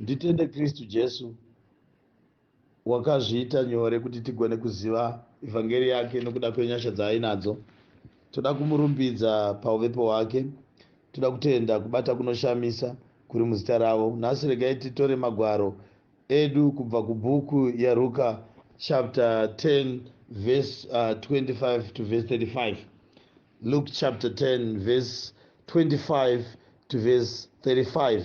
Nditende Kristu Jesu wakazviita nyore kuti tigone kuziva evhangeri yake nokuda kwenyasha dzaainadzo. Toda kumurumbidza pauvepo hwake. Toda kutenda kubata kunoshamisa kuri muzita ravo. Nhasi regai titore magwaro edu kubva kubhuku yaRuka chapter 10 verse uh, 25 to verse 35. Luke chapter 10 verse 25 to verse 35.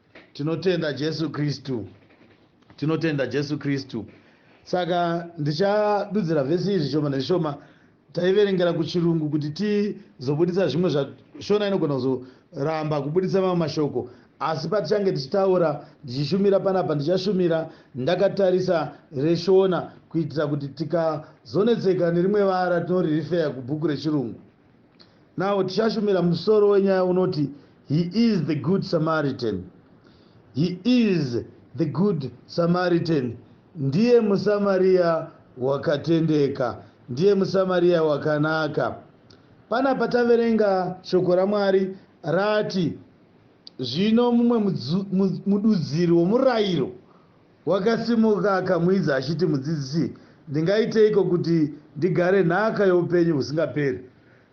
tinotenda jesu kristu tinotenda jesu kristu saka ndichadudzira vhesi izvi shoma neshoma taiverengera kuchirungu kuti tizobudisa zvimwe zvashona inogona kuzoramba kubudisa mamwe mashoko asi patichange tichitaura ndichishumira panapa ndichashumira ndakatarisa reshona kuitira kuti tikazonetseka nerimwe vara tinoririfeya kubhuku rechirungu Now tichashumira musoro wenyaya unoti He is the good Samaritan. He is the good Samaritan. Ndiye muSamaria wakatendeka. Ndiye muSamaria wakanaka. Pana pataverenga shoko raMwari rati zvino mumwe mududziri womurayiro Wakasimuka akamuidza achiti, Mudzidzisi, ndingaiteiko kuti ndigare nhaka youpenyu husingaperi?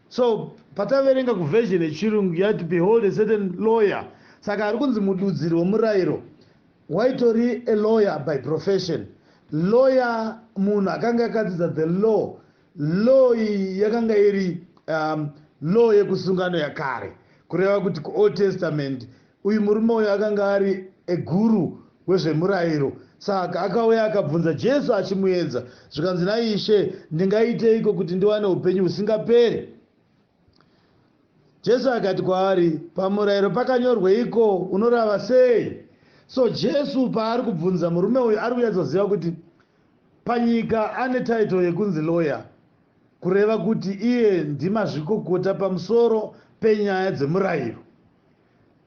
So pataverenga kuversion yechirungu yati behold a certain lawyer saka ari kunzi mududziri wemurairo waitori a lawyer by profession lawyer munhu akanga akadzidza the law law iyi yakanga iri um, law yekusungano yakare kureva kuti kuold testament Uyu murume uyu akanga ari a guru wezvemurairo saka akauya akabvunza Jesu achimuedza zvikanzi na Ishe ndingaiteiko kuti ndiwane hupenyu husingaperi? Jesu akati kwaari pamurairo pakanyorweiko unorava sei? So Jesu paari kubvunza murume uyu ari kunyatsoziva kuti panyika ane title yekunzi lawyer kureva kuti iye ndimazvikokota pamusoro penyaya dzemurairo.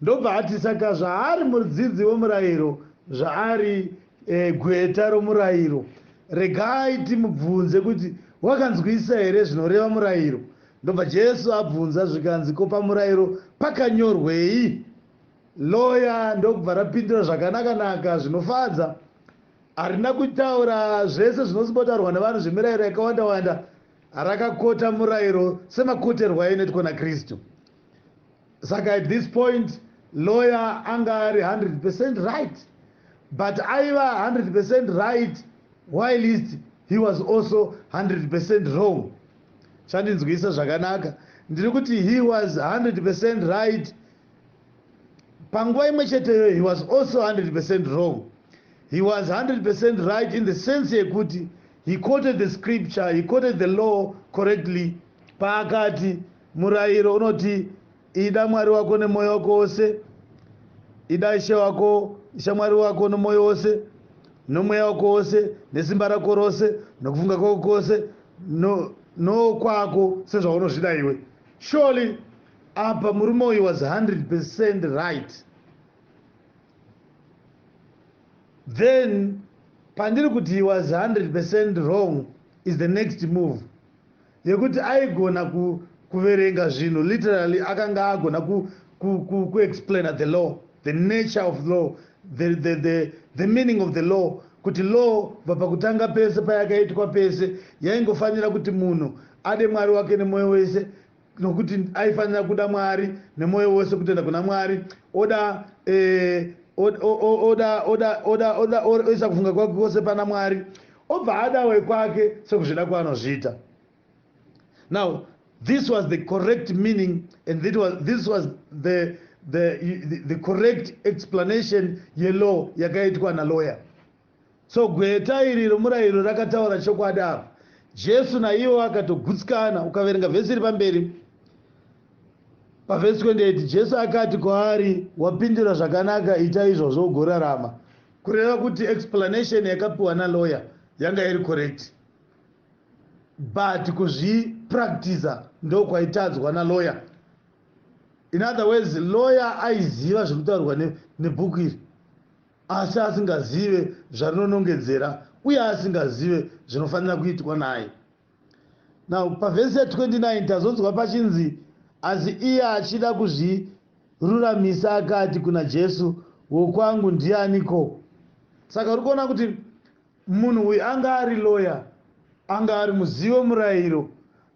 Ndobva ati, Saka zvaari mudzidzi womurayiro zvaari e, gweta romurayiro. Regai timubvunze kuti wakanzwisisa here zvinoreva murayiro. Ndobva Jesu abvunza zvikanzi, Ko pamurayiro pakanyorwei? Loya ndokubva rapindura zvakanaka-naka zvinofadza. Harina kutaura zvese zvinozimbotaurwa nevanhu zvemirayiro yakawanda-wanda, rakakota murayiro semakoterwo ainoitwa naKristu. Saka at this point lawyer anga ari 100 percent right but aiva 100 percent right whilst he was also 100 percent wrong chandinzwisa zvakanaka ndiri kuti he was 100 percent right panguva imwe cheteyo he was also 100 percent wrong he was 100 percent right in the sense yekuti he quoted the scripture he quoted the law correctly paakati Murayiro unoti, Ida Mwari wako nemwoyo wako wose, ida Ishe wako, Ishe Mwari wako nomwoyo wose, nomweya wako wose, nesimba rako rose, nokufunga kwako kwose, no, nokwako sezvaunozvida iwe. Surely apa murume uyu was 100 percent right then pandiri kuti he was 100 percent wrong is the next move yekuti aigona ku, kuverenga zvinhu literally akanga agona kuexplaina ku, ku, ku the law the nature of the law the, the, the, the meaning of the law kuti law bva pakutanga pese payakaitwa pese yaingofanira kuti munhu ade mwari wake nemwoyo wese nokuti aifanira kuda mwari nemwoyo wose kutenda kuna mwari oda eh, oda oda oda oda oisa kufunga kwake kwose pana mwari Obva ada wekwake sekuzvida kwaanozviita. Now this was the correct meaning and this was, this was the, the, the, the correct explanation yelaw yakaitwa nalawyer. So gweta iri romurayiro rakataura chokwadi apa. Jesu naiwo akatogutsikana ukaverenga vhesi iri pamberi pavhesi 28 Jesu akati kwaari wapindura zvakanaka ita izvozvo ugorarama. Kureva kuti explanation yakapiwa na lawyer yanga iri correct but kuzvi practicer ndokwaitadzwa na lawyer. In other words lawyer aiziva zvekutaurwa ne, nebhuku iri asi asingazive zvarinonongedzera uye asingazive zvinofanira kuitwa naye. Now pavhesi ya 29 tazonzwa pachinzi asi iye achida kuzviruramisa akati kuna Jesu wokwangu ndiani ko. Saka uri kuona kuti munhu uyu anga ari lawyer anga ari muzivi wemurayiro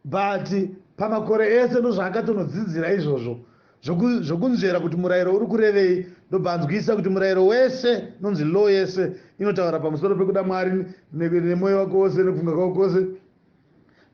but pamakore ese ndozvaakatonodzidzira izvozvo Zvoku, zvokunzvera kuti murayiro uri kurevei ndobva anzwisisa kuti murayiro wese unonzi law yese inotaura pamusoro pekuda mwari nemwoyo wako wose nekufunga kwako kwose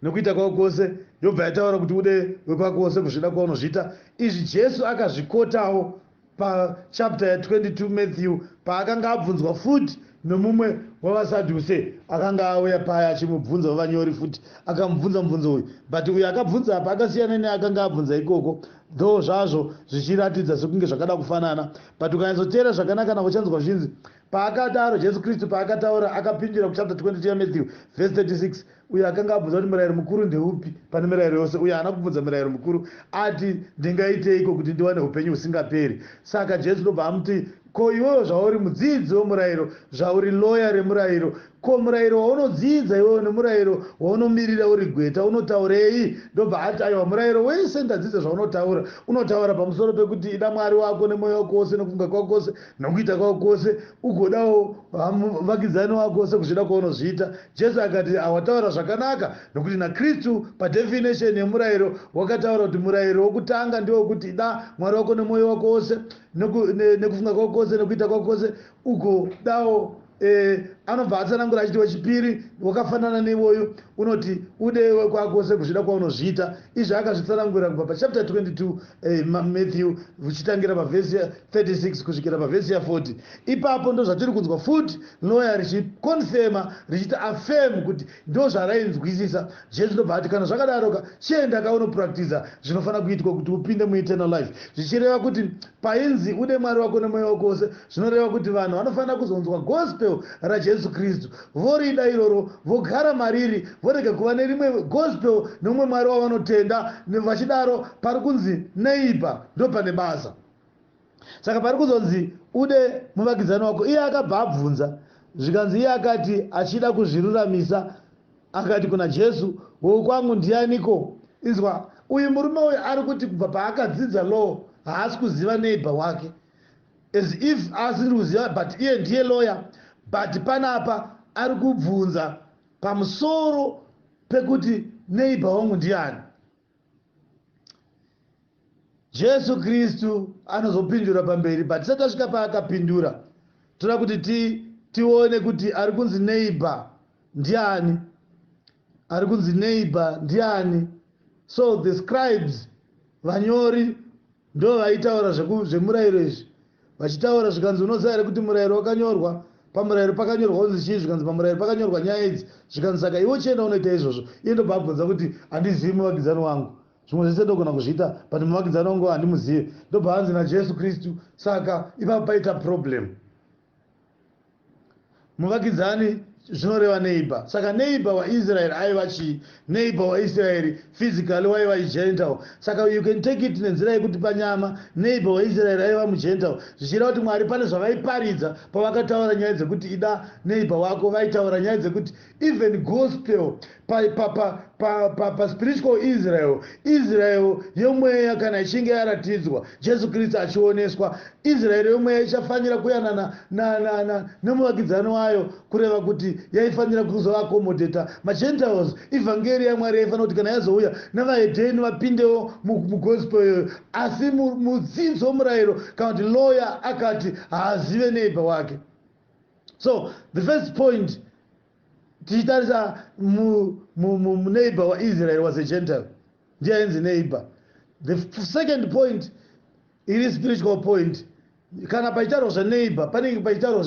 nekuita kwako kwose yobva yataura kuti ude wekwako wose kuzvida kwaunozviita izvi jesu akazvikotawo pachapta ya 22 matthew paakanga abvunzwa futi nomumwe wavasadhuse akanga auya paya achimubvunza wavanyori futi akamubvunza mubvunzo uyu but uyu akabvunza apa akasiyana neakanga abvunza ikoko though zvazvo zvichiratidza sekunge zvakada kufanana but ukanyatsoteera zvakanaka nako chanzwa zvinzi paakadaro jesu kristu paakataura akapindira kuchapter 22 yamatthew verse 36 Uyo akanga abvunza kuti murayiro mukuru ndeupi pane mirayiro yose, uyo haana kubvunza murayiro mukuru ati, Ndingaiteiko kuti ndiwane upenyu husingaperi? Saka Jesu ndobva amuti, Ko iwewe zvauri mudzidzi wemurayiro, zvauri loya remurayiro, ko murayiro waunodzidza iwewe nemurayiro waunomirira uri gweta unotaurei? Ndobva ati, Aiwa, murayiro wese ndadzidza zvaunotaura. Unotaura pamusoro pekuti ida Mwari wako nemwoyo wako wose, nekufunga kwako kwose, nokuita kwako kwose, ugodawo vamu, vakidzani wako sekuzvida kwaunozviita. Jesu akati ah, wataura zvakanaka nokuti naKristu padefinition yemurayiro wakataura kuti murayiro wokutanga ndiwo kuti da Mwari wako nemwoyo wako wose nekufunga kwako kwose nekuita kwako kwose ugodawo eh, anobva atsanangura achiti wechipiri wakafanana neiwoyu unoti ude kwakwose kuzvida kwaunozviita izvi akazvitsanangura kubva pachapter 22 eh, matthew uchitangira pavhesi 36 kusvikira pavhesi ya 40 ipapo ndozvatiri kunzwa futi loya richikonfema richiti afem kuti ndozvarainzwisisa zviye zvinobva ati kana zvakadaroka chienda kaunopractiza zvinofanira kuitwa kuti upinde mueternal life zvichireva kuti painzi ude mwari wako nemweya wako wose zvinoreva kuti vanhu vanofanira kuzonzwa gospel rajesu kristu vorida iroro vogara mariri vorega kuva nerimwe gospel neumwe mwari wavanotenda vachidaro pari kunzi neiba ndopane basa saka pari kuzonzi ude muvakidzani wako iye akabva abvunza zvikanzi iye akati achida kuzviruramisa akati kuna jesu wokwangu ndianiko inzwa uyu murume uyu ari kuti kubva paakadzidza law haasi kuziva neighbor wake as if asiri kuziva but iye ndiye lawyer but panapa ari kubvunza pamusoro pekuti neighbor wangu ndiani jesu kristu anozopindura pamberi but tisati tasvika paakapindura toda kuti ti, tione kuti ari kunzi neighbor ndiani ari kunzi neighbor ndiani so the scribes vanyori Ndoo vaitaura zveku zvemurairo izvi vachitaura zvikanzi unoziva here kuti murairo wakanyorwa pamurairo pakanyorwa unzi chii zvikanzi pamurairo pakanyorwa nyaya idzi zvikanzi saka iwe chienda unoita izvozvo iye ndobva abvunza kuti handizivi muvakidzani wangu zvimwe zvese ndogona kuzviita but muvakidzani wangu handimuzive ndobva anzi najesu kristu saka ipapo paita problem muvakidzani zvinoreva neighbor saka neighbor waisraeri aiva chii neighbor waisraeri physically waiva igental saka you can take it nenzira yekuti panyama neighbor waisraeri aiva mugental zvichireva kuti mwari pane zvavaiparidza pavakataura nyaya dzekuti ida neighbor wako vaitaura nyaya dzekuti even gospel pa, pa, pa, pa, pa, pa spiritual israel israel yomweya kana ichinge yaratidzwa jesu kristu achioneswa israeri yomweya ichafanira kuyanana nemuvakidzani wayo kureva kuti yaifanira kuzoakomodheta magentiles ivhangeri yamwari yaifanira kuti kana yazouya nevahedheni vapindewo mugospel iyoyo asi mudzidzo murayiro kana kuti loya akati haazive neiba wake so the first point tichitarisa muneighbor waisrael was a gentile ndiye ainzi neighbor the second point iri spiritual point kana paitaurwa zveneighbor panenge paitaurwa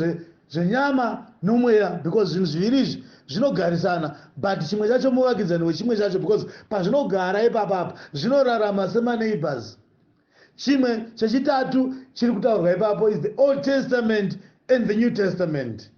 zvenyama nomweya because zvinhu zviviri izvi zvinogarisana but chimwe chacho muvakidzani wechimwe chacho because pazvinogara ipapapa zvinorarama semaneighbors Chimwe chechitatu chiri kutaurwa ipapo is the Old Testament and the New Testament.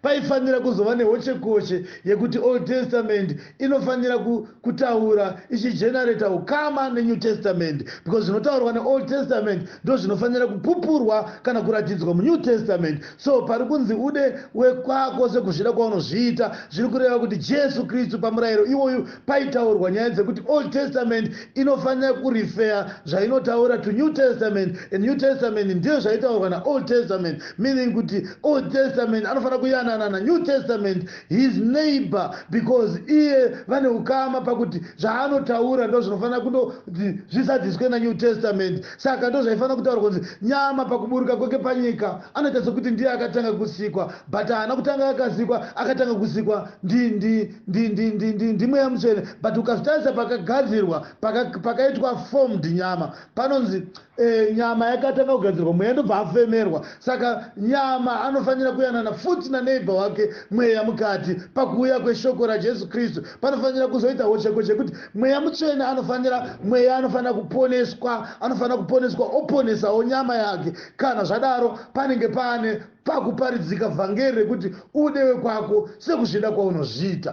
Paifanira kuzova nehochekoche yekuti Old Testament inofanira kutaura ichigenerata ukama neNew Testament because zvinotaurwa neOld Testament ndo zvinofanira kupupurwa kana kuratidzwa muNew Testament. So pari kunzi ude wekwako sekuzvida kwaunozviita zviri kureva kuti Jesu Kristu pamurayiro iwoyu paitaurwa nyaya dzekuti old testament inofanira kurifeya zvainotaura to new testament and new testament ndiyo zvaitaurwa naold testament meaning kuti old testament anofanira kuyanana nanew testament his neighbor because iye vane ukama pakuti zvaanotaura ndo zvinofanira kundoti zvisadziswe nanew testament saka ndo zvaifanira kutaura kunzi nyama pakuburuka kwake panyika anoita sekuti ndiye akatanga kusikwa but haana kutanga akasikwa akatanga kusikwa ndi ndi ndi, ndi, ndi, ndi, ndi mweya mutsvene but ukazvitarisa pakagadzirwa pakaitwa paka formed nyama panonzi e, nyama yakatanga kugadzirwa mweya ndobva afemerwa saka nyama anofanira kuyanana futi naneighbor wake mweya mukati pakuuya kweshoko rajesu kristu panofanira kuzoita hocheko chekuti mweya mutsvene anofanira mweya anofanira kuponeswa anofanira kuponeswa oponesawo nyama yake kana zvadaro panenge paane pakuparidzika vhangeri rekuti ude wekwako sekuzvida kwaunozviita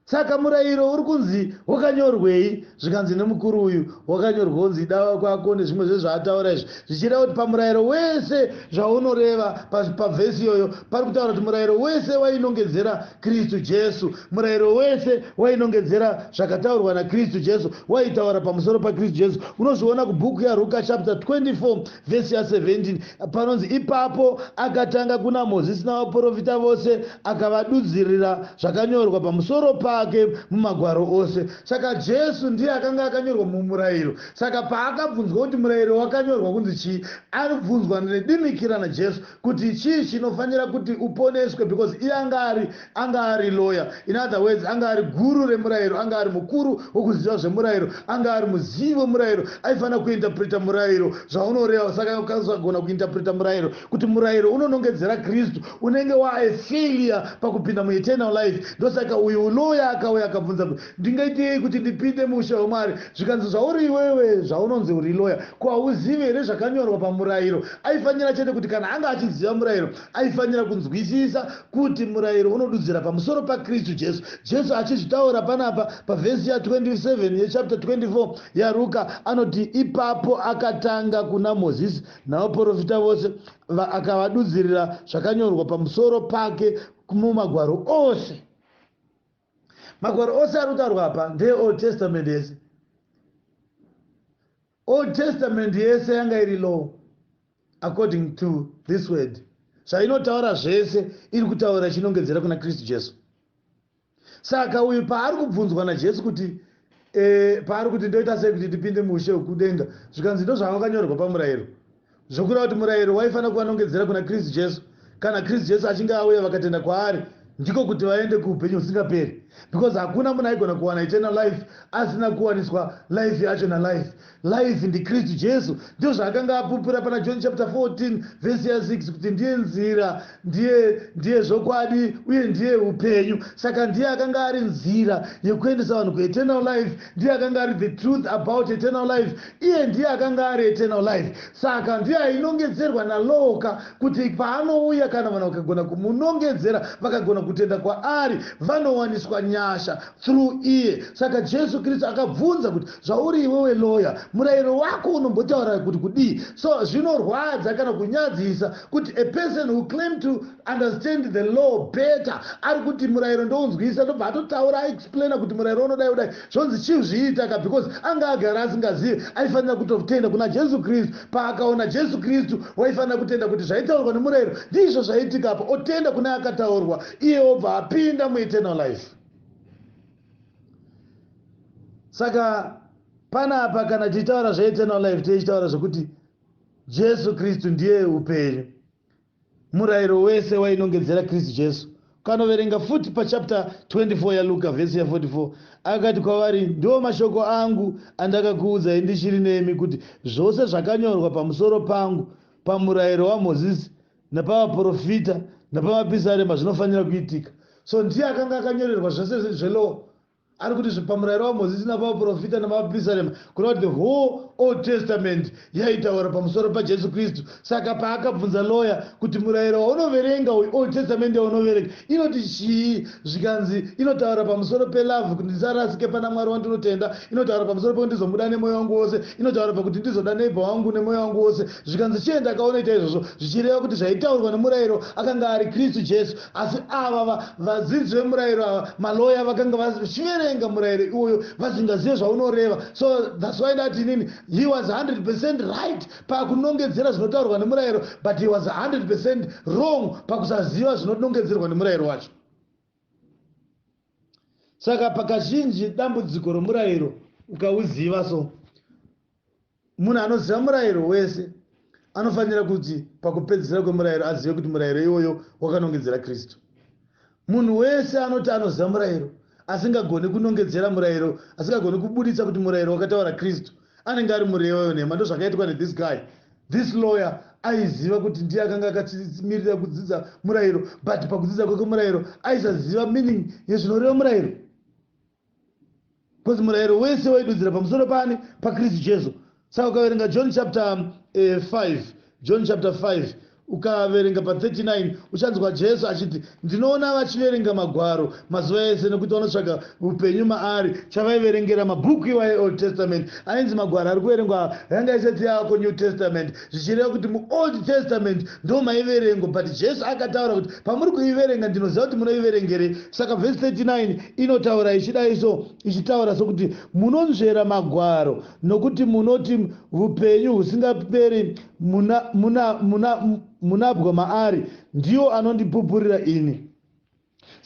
saka murayiro uri kunzi wakanyorwei zvikanzi nemukuru uyu wakanyorwa kunzi dava kwako nezvimwe zvezvaataura izvi zvichida kuti pamurayiro wese zvaunoreva pavhesi iyoyo pari kutaura kuti murayiro wese wainongedzera Kristu Jesu. Murayiro wese wainongedzera zvakataurwa naKristu Jesu, waitaura pamusoro paKristu Jesu. Unozviona kubhuku yaRuka chapter 24 vhesi ya 17 panonzi, Ipapo akatanga kuna Mozisi navaporofita vose, akavadudzirira zvakanyorwa pamusoro pake mumagwaro ose. Saka Jesu ndiye akanga akanyorwa mumurayiro. Saka paakabvunzwa kuti murayiro wakanyorwa kunzi chii, anobvunzwa nedimikira naJesu. kuti chii chinofanira kuti uponeswe because iye anga ari anga ari lawyer in other words anga ari guru remurayiro anga ari mukuru wokuziva zvemurayiro anga ari muzivi wemurayiro aifanira kuinterpreta murayiro zvaunoreva saka ukasagona kuinterpreta murayiro kuti murayiro unonongedzera kristu unenge waaefailure pakupinda mueternal life ndosaka uyu lawyer akauya akabvunza Ndingaitei kuti ndipinde muushe hwaMwari? Zvikanzi, Zvauri iwewe, zvaunonzi uri lawyer, ko hauzivi here zvakanyorwa pamurairo? Aifanira chete kuti kana anga achiziva murairo, aifanira kunzwisisa kuti murairo unodudzira pamusoro paKristu Jesu. Jesu achizvitaura panapa pavhesi ya 27 ye chapter 24 yaRuka anoti, Ipapo akatanga kuna Mozisi navaporofita vose, va- akavadudzirira zvakanyorwa pamusoro pake mumagwaro ose. Magwaro ose ari kutaurwa apa ndeeOld Testament yese. Old Testament yese yanga iri law according to this word. Zvainotaura zvese iri kutaura chinongedzera kuna Kristu Jesu. Saka uyu paari kubvunzwa naJesu kuti e, paari kuti ndoita sei kuti ndipinde muushe hwekudenga zvikanzi ndozvakakanyorwa pamurayiro Zvokureva kuti murayiro waifanira kuvanongedzera kuna Kristu Jesu kana Kristu Jesu achinge auya vakatenda kwaari ndiko kuti vaende kuupenyu husingaperi because hakuna munhu aigona kuwana eternal life asina kuwaniswa life yacho nalife life ndikristu jesu ndizvo zvaakanga apupura pana john chapter 14 vhesi ya 6 kuti ndiye nzira Ndiye, ndiye zvokwadi, uye ndiye upenyu. Saka ndiye akanga ari nzira yekuendesa vanhu kueternal life, ndiye akanga ari the truth about eternal life, iye ndiye akanga ari eternal life. Saka ndiye ainongedzerwa nalowoka kuti paanouya, kana vanhu vakagona kumunongedzera, vakagona kutenda kwaari, vanowaniswa nyasha through iye. Saka Jesu Kristu akabvunza kuti, zvauri iwewe loya, murayiro wako unombotaura kuti kudii? So zvinorwadza kana kunyadzisa Kuti a person who claim to understand the law better ari kuti murayiro ndounzwisa ndobva atotaura aexplaina kuti murayiro unodai udai zvonzi chizviita ka because anga agara asingazive aifanira kutotenda kuna jesu kristu paakaona jesu kristu waifanira kutenda kuti zvaitaurwa nemurayiro ndizvo zvaiitika apa otenda kune akataurwa iye obva apinda mueternal life saka panapa kana tichitaura zveeternal life teichitaura zvekuti Jesu Kristu ndiye upenyu. Murayiro wese wainongedzera Kristu Jesu. Kanoverenga futi pachapter 24 yaLuka vhesi ya44 akati kwavari, ndiwo mashoko angu andakakuudzai ndichiri nemi kuti zvose zvakanyorwa pamusoro pangu pamurayiro waMozisi napavaprofita napamapisarema zvinofanira kuitika. So ndiye akanga akanyorerwa zvese zvelowo Ari kuti zve pamurairo waMozisi napavaporofita navaprista nema, kureva kuti the whole Old Testament yaitaura pamusoro paJesu Kristu. Saka paakabvunza loya kuti murairo waunoverenga uyu, Old Testament yaunoverenga, inoti chii? Zvikanzi inotaura pamusoro pe love, kuti ndisarasike pana Mwari wandinotenda, inotaura pamusoro pekuti ndizomuda nemoyo wangu wose, inotaura pakuti ndizoda neighbor wangu nemoyo wangu wose. Zvikanzi chiye ndakaona ita izvozvo, zvichireva kuti zvaitaurwa nemurairo akanga ari Kristu Jesu. Asi ava va, vadzidzi vemurayiro ava, maloya vakanga vachiverenga murayiro iwoyo vasingazive zvaunoreva. So that's why ndati inini he was 100% right pakunongedzera zvinotaurwa nemurayiro but he was 100% wrong pakusaziva zvinonongedzerwa nemurayiro wacho. Saka pakazhinji dambudziko romurayiro ukauziva so Munhu anoziva murayiro wese anofanira kuti pakupedzisira kwemurayiro azive kuti murayiro iwoyo wakanongedzera Kristu. Munhu wese anoti anoziva murayiro asingagoni kunongedzera murayiro, asingagoni kubuditsa kuti murayiro wakataura Kristu, anenge ari murevi wenhema. Ndozvakaitwa ne this guy. This lawyer aiziva kuti ndiye akanga akachimirira kudzidza murayiro but pakudzidza kwake murayiro aisaziva meaning yezvinoreva murayiro. because murayiro wese waidudzira pamusoro paani pakristu jesu saka ukaverenga john chapter 5 eh, john chapter 5 ukaverenga pa39 uchanzwa jesu achiti ndinoona vachiverenga magwaro mazuva ese nekuti vanotsvaga upenyu maari chavaiverengera mabhuku iwaye old testament ainzi magwaro ari kuverengwa yanga isati yako new testament zvichireva kuti muold testament ndo maiverengwa but jesu akataura kuti pamuri kuiverenga ndinoziva kuti munoiverengere saka vhesi 39 inotaura ichidai so ichitaura sokuti munonzvera magwaro nokuti munoti vupenyu husingaperi munabwa maari ndiwo anondipupurira ini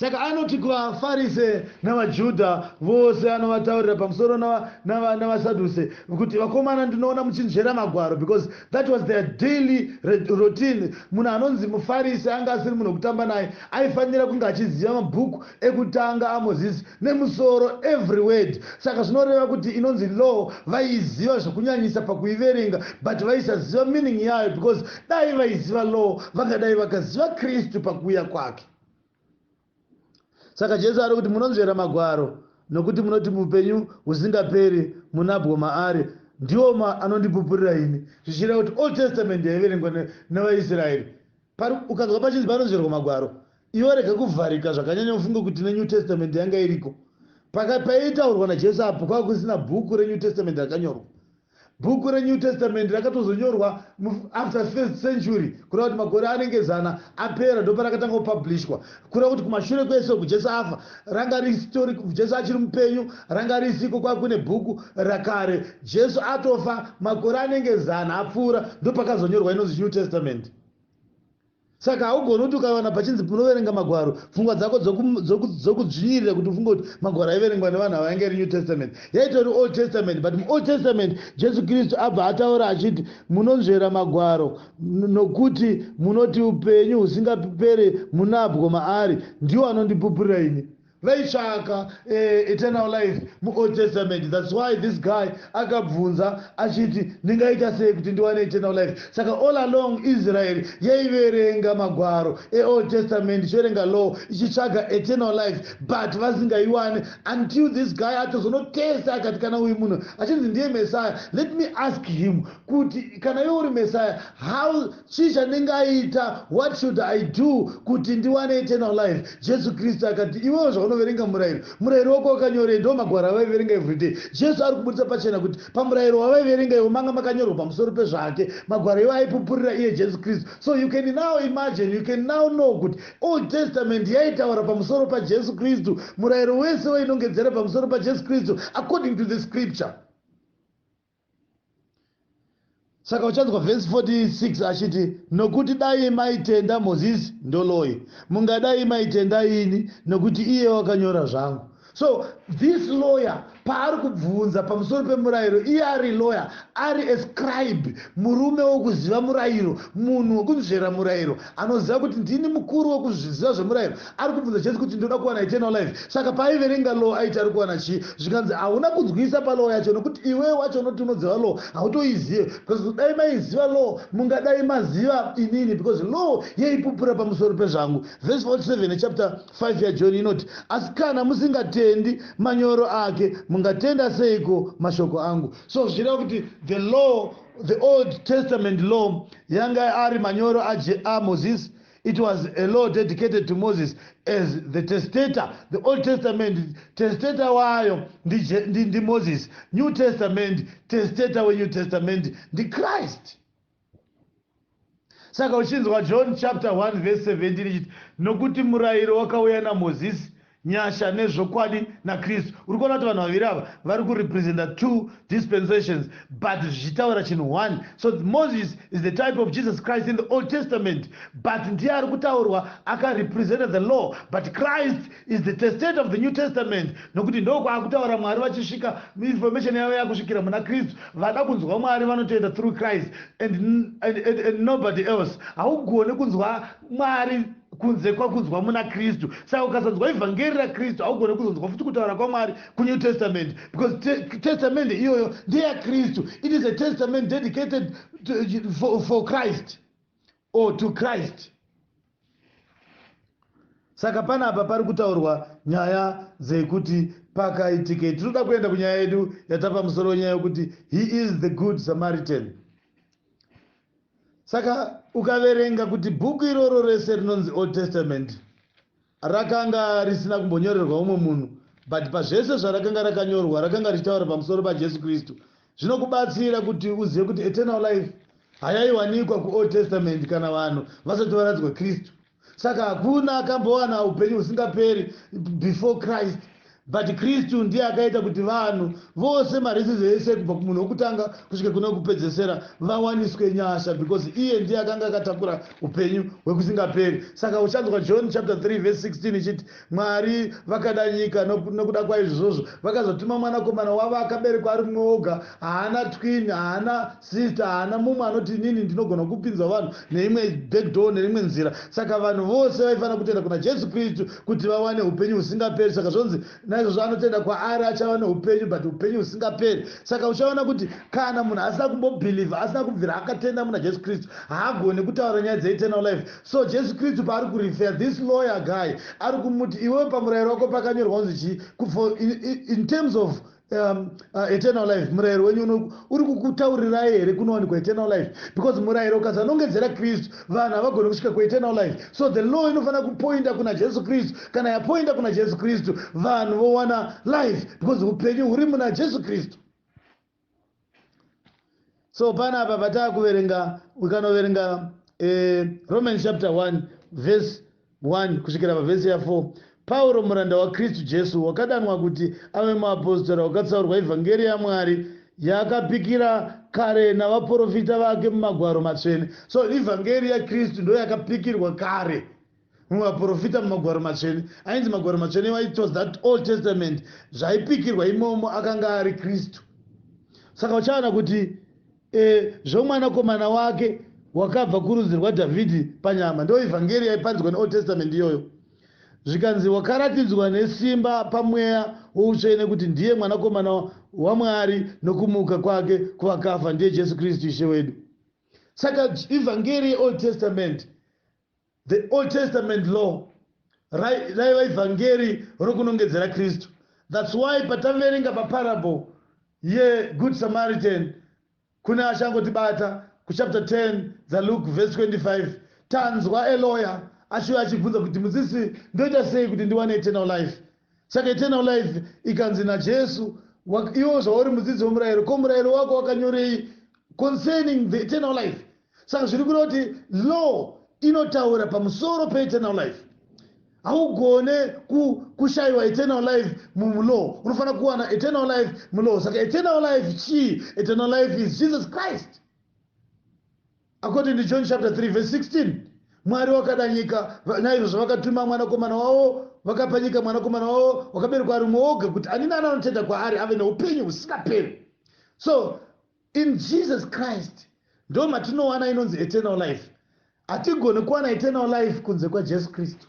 Saka anoti kuvaFarise navaJudha vose anovataurira pamusoro navaSaduse kuti vakomana ndinoona muchinzvera magwaro because that was their daily routine. Munhu anonzi muFarise anga asiri munhu wekutamba naye aifanira kunge achiziva mabhuku ekutanga aMoses nemusoro every word. Saka zvinoreva kuti inonzi law vaiiziva zvekunyanyisa pakuiverenga but vaisaziva meaning yayo because dai vaiziva law vangadai vakaziva Kristu pakuuya kwake. saka jesu ari kuti munonzvera magwaro nokuti munoti mupenyu husingaperi munabwo maari ndiwo ma anondipupurira ini zvichireva kuti old testament yaiverengwa nevaisraeri ukanzwa pachinzi panonzverwa magwaro ivo rega kuvharika zvakanyanya ufunge kuti nenew testament yanga iriko pakaitaurwa najesu apo kwava kusina bhuku renew testament rakanyorwa Bhuku reNew Testament rakatozonyorwa mu after first century kureva kuti makore anenge zana apera ndoparakatanga kupublishwa kureva kuti kumashure kwese uku Jesu afa ranga risitori Jesu achiri mupenyu ranga risiko kwave kune bhuku rakare Jesu atofa makore anenge zana apfuura ndopakazonyorwa inonzi New Testament Saka haugoni kuti ukawana pachinzi unoverenga Magwaro, pfungwa dzako dzokudzvinyirira kuti ufunge kuti Magwaro aiverengwa nevanhu ava ainge ari New Testament. Yaitori Old Testament, but muOld Testament Jesu Kristu abva ataura achiti, Munonzvera Magwaro, nokuti munoti upenyu husingapere munabwo maari, ndiwo anondipupurira ini. vaitsvaka eh, eternal life muold testament thats why this guy akabvunza achiti ndingaita sei kuti ndiwane eternal life saka all along israel yaiverenga magwaro eold testament ichiverenga law ichitsvaga eternal life but vasingaiwane until this guy atozonotesta akati kana uyu munhu achinzi ndiye messiah let me ask him kuti kana iwe uri messiah how Chii chandingaita? What should I do kuti ndiwane eternal life? Jesu Kristu akati, Iwewo zvaunoverenga murayiro, murayiro wako wakanyorei? Ndiwo magwaro avaiverenga everyday. Jesu ari kuburitsa pachena kuti pamurayiro wavaiverenga iwo manga makanyorwa pamusoro pezvake. Magwaro iwo aipupurira iye Jesu Kristu. So you can now imagine, you can now know kuti Old Testament yaitaura pamusoro paJesu Kristu. Murayiro wese wainongedzera pamusoro paJesu Kristu according to the scripture. saka uchanzwa vhesi 46 achiti nokuti dai maitenda mozisi ndoloi mungadai maitenda ini nokuti iye wakanyora zvangu so this lawyer paari kubvunza pamusoro pemurayiro iye ari lawyer ari ascribe murume wokuziva murayiro munhu wokunzvera murayiro anoziva kuti ndini mukuru wokuzviziva zvemurayiro Ari kubvunza Jesu kuti, Ndoda kuwana eternal life. Saka paaiverenga law aiti ari kuwana chii? Zvikanzi, Hauna kunzwisisa palaw yacho nokuti iwewe wacho unoti unoziva law hautoizive. Because kudai maiziva law mungadai maziva inini because law yaipupura pamusoro pezvangu. Verse 47 yechapter 5 yaJohn inoti, Asi kana musingatendi manyoro ake, mungatenda seiko mashoko angu? So zvichireva kuti the law, the old testament law yanga ari manyoro aMoses. It was a law dedicated to Moses as the testator. The Old Testament, testator wayo ndi Moses. New Testament, testator we New Testament ndi Christ. Saka uchinzwa John chapter 1 verse 17 ichiti nokuti murayiro wakauya naMoses Nyasha nezvokwadi naKristu. Uri kuona kuti vanhu vaviri ava vari kurepresenta two dispensations but zvichitaura chinhu one. So Moses is the type of Jesus Christ in the Old Testament but ndiye ari kutaurwa akarepresenta the law but Christ is the testator of the New Testament nokuti ndokwaakutaura Mwari vachisvika information yavo yakusvikira muna Kristu. Vada kunzwa Mwari vanotoenda through Christ and, and, and, and nobody else. Haugone kunzwa Mwari kunze kwakunzwa muna Kristu. Saka ukasonzwa ivhangeri ra Kristu haugone kuzonzwa futi kutaura kwa Mwari ku New Testament because te, testament iyoyo ndeya Kristu. It is a testament dedicated to, for, for Christ or to Christ. Saka pana apa pari kutaurwa nyaya dzekuti pakaitike tinoda kuenda kunyaya yedu yatapa musoro wenyaya yokuti he is the good Samaritan. Saka ukaverenga kuti bhuku iroro rese rinonzi Old Testament rakanga risina kumbonyorerwa umwe munhu but pazvese zvarakanga rakanyorwa rakanga richitaura pamusoro paJesu Kristu zvinokubatsira kuti uzive kuti eternal life hayaiwanikwa kuOld Testament kana vanhu vasati varadzwa Kristu. Saka hakuna akambowana upenyu husingaperi before Christ but Kristu ndiye akaita kuti vanhu vose maraces ese kubva kumunhu wokutanga kusvika kune wokupedzesera vawaniswe nyasha because iye ndiye akanga akatakura upenyu hwekusingaperi. Saka uchanzwa John chapter 3 verse 16 ichiti Mwari vakada nyika nokuda kwaizvozvo vakazotuma mwanakomana wavo akaberekwa ari mumwe woga haana twin haana sister haana mumwe anoti inini ndinogona kupinzwa vanhu neimwe backdoor neimwe nzira saka vanhu vose vaifanira kutenda kuna jesu kristu kuti vawane upenyu husingaperi saka zvonzi naizvozvo anotenda kwaari achava neupenyu but upenyu husingaperi saka uchaona kuti kana munhu asina kumbobhilivha asina kubvira akatenda muna jesu kristu haagoni kutaura nyaya dzeeternal life So Jesu Kristu paari ku refer this lawyer guy ari kumuti iwewe pamurayiro wako pakanyorwa kunzi chii for in, in terms of um, uh, eternal life murayiro wenyu uno uri kukutaurirai here kunowanikwa eternal life because murayiro ukazanongedzera kristu vanhu havagoni kusvika kueternal life so the law inofanira kupoinda kuna jesu kristu kana yapoinda kuna jesu kristu vanhu vowana life because upenyu huri muna jesu kristu so pana apa pataa kuverenga ukanoverenga eh, romans chapter 1 verse 1 kusvikira pavhesi ya4 pauro muranda wakristu jesu wakadanwa kuti ave muapostora wakatsaurwa evhangeri yamwari yakapikira kare navaprofita vake mumagwaro matsvene so ivhangeri yakristu ndoyakapikirwa kare mumwe vaprofita mumagwaro matsvene ainzi magwaro matsvene iwa it was that old testament zvaipikirwa imomo akanga ari kristu saka uchaona kuti e, zvomwanakomana wake wakabva kurudzi rwadhavhidhi panyama ndo evhangeri yaipanzwa neold testament iyoyo zvikanzi wakaratidzwa nesimba pamweya woutsvene kuti ndiye mwanakomana wamwari nokumuka kwake kuvakafa ndiye jesu kristu ishe wedu saka evhangeri yeold testament The Old Testament Law raiva ivhangeri rokunongedzera Kristu. That's why pataverenga paparable yeGood Samaritan kune achangotibata kuchapter 10 dzaLuke verse 25 tanzwa a lawyer achiuya achibvunza kuti mudzisi ndoita sei kuti ndiwane eternal life Saka eternal life ikanzi naJesu, iwo zvauri mudzidzi wemurayiro, ko murayiro wako wakanyorei concerning the eternal life? Saka zviri kureva kuti law inotaura pamusoro peeternal life. Haugone kushayiwa eternal life mulaw, unofanira kuwana eternal life mulaw. Saka eternal life chii? Eternal life is Jesus Christ. According to John chapter 3 verse 16, Mwari wakada nyika, naizvozvo vakatuma mwanakomana wavo, vakapa nyika mwanakomana wavo wakaberekwa ari umwe woga, kuti ani nani anotenda kwaari ave noupenyu husingaperi. So in Jesus Christ ndo matinowana inonzi eternal life. Hatigoni kuwana eternal life kunze kwaJesu Kristu.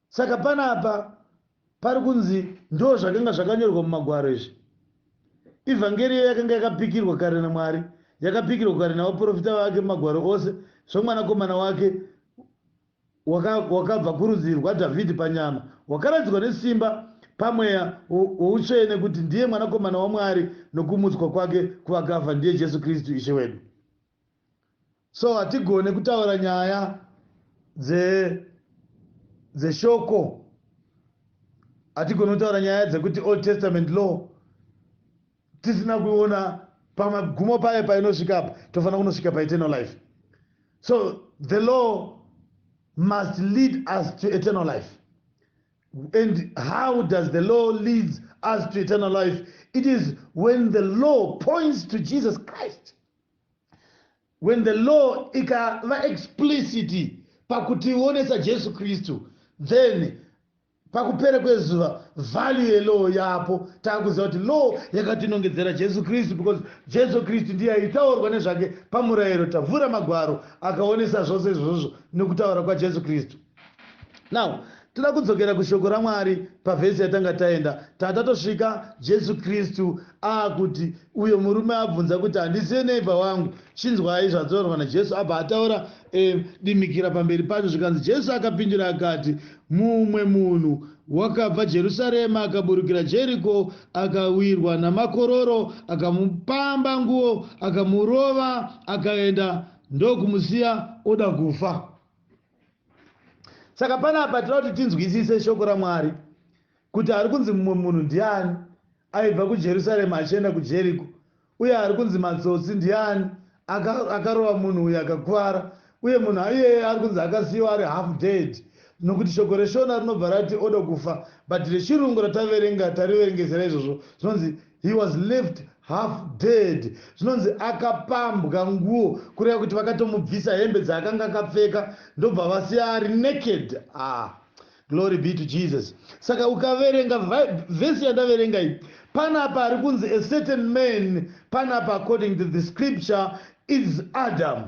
saka panapa pari kunzi ndo zvakanga zvakanyorwa mumagwaro izvi ivhangeri iyo yakanga yakapikirwa kare namwari yakapikirwa kare navaprofita vake mumagwaro ose zvomwanakomana wake wakabva kurudzi rwadhavhidhi panyama wakaratidzwa nesimba pamweya woutsvene kuti ndiye mwanakomana wamwari nokumutswa kwake kuvakafa ndiye jesu kristu ishe wedu So hatigone kutaura nyaya dze dzeshoko hatigone kutaura nyaya dzekuti old testament law tisina kuona pamagumo payo painosvika apa tofanira kunosvika paeternal life so the law must lead us to eternal life and how does the law leads us to eternal life it is when the law points to jesus christ When the law ikava explicit pakutionesa Jesu Kristu, then pakupera kwezuva value yelaw yapo taakuziva kuti law yakatinongedzera Jesu Kristu because Jesu Kristu ndiye aitaurwa nezvake pamurayiro. Tavhura magwaro akaonesa zvose izvozvo nekutaura kwaJesu Kristu. now toda kudzokera kushoko ramwari pavhesi yatanga taenda tata tosvika jesu kristu aakuti uyo murume abvunza kuti handisiye neiva wangu chinzwai zvataurwa najesu abva ataura e, dimikira pamberi pacho zvikanzi jesu akapindura akati mumwe munhu wakabva jerusarema akaburukira jeriko akawirwa namakororo akamupamba nguo akamurova akaenda ndokumusiya oda kufa saka panapa tinoda kuti tinzwisise shoko ramwari kuti ari kunzi mumwe munhu ndiani aibva kujerusarema achienda kujeriko uye ari kunzi matsotsi ndiani akarova munhu uyo akakuvara uye munhu iyeye ari kunzi akasiyiwa ari half dead nokuti shoko reshona rinobva rati oda kufa but rechirungu rataverenga tariverengezera izvozvo zvinonzi He was left half dead. Zvinonzi akapambwa nguo kureva kuti vakatomubvisa hembe dzaakanga akapfeka ndobva vasiya ari naked. Ah. Glory be to Jesus. Saka ukaverenga vhesi yandaverenga iyi panapa ari kunzi a certain man panapa according to the scripture is Adam.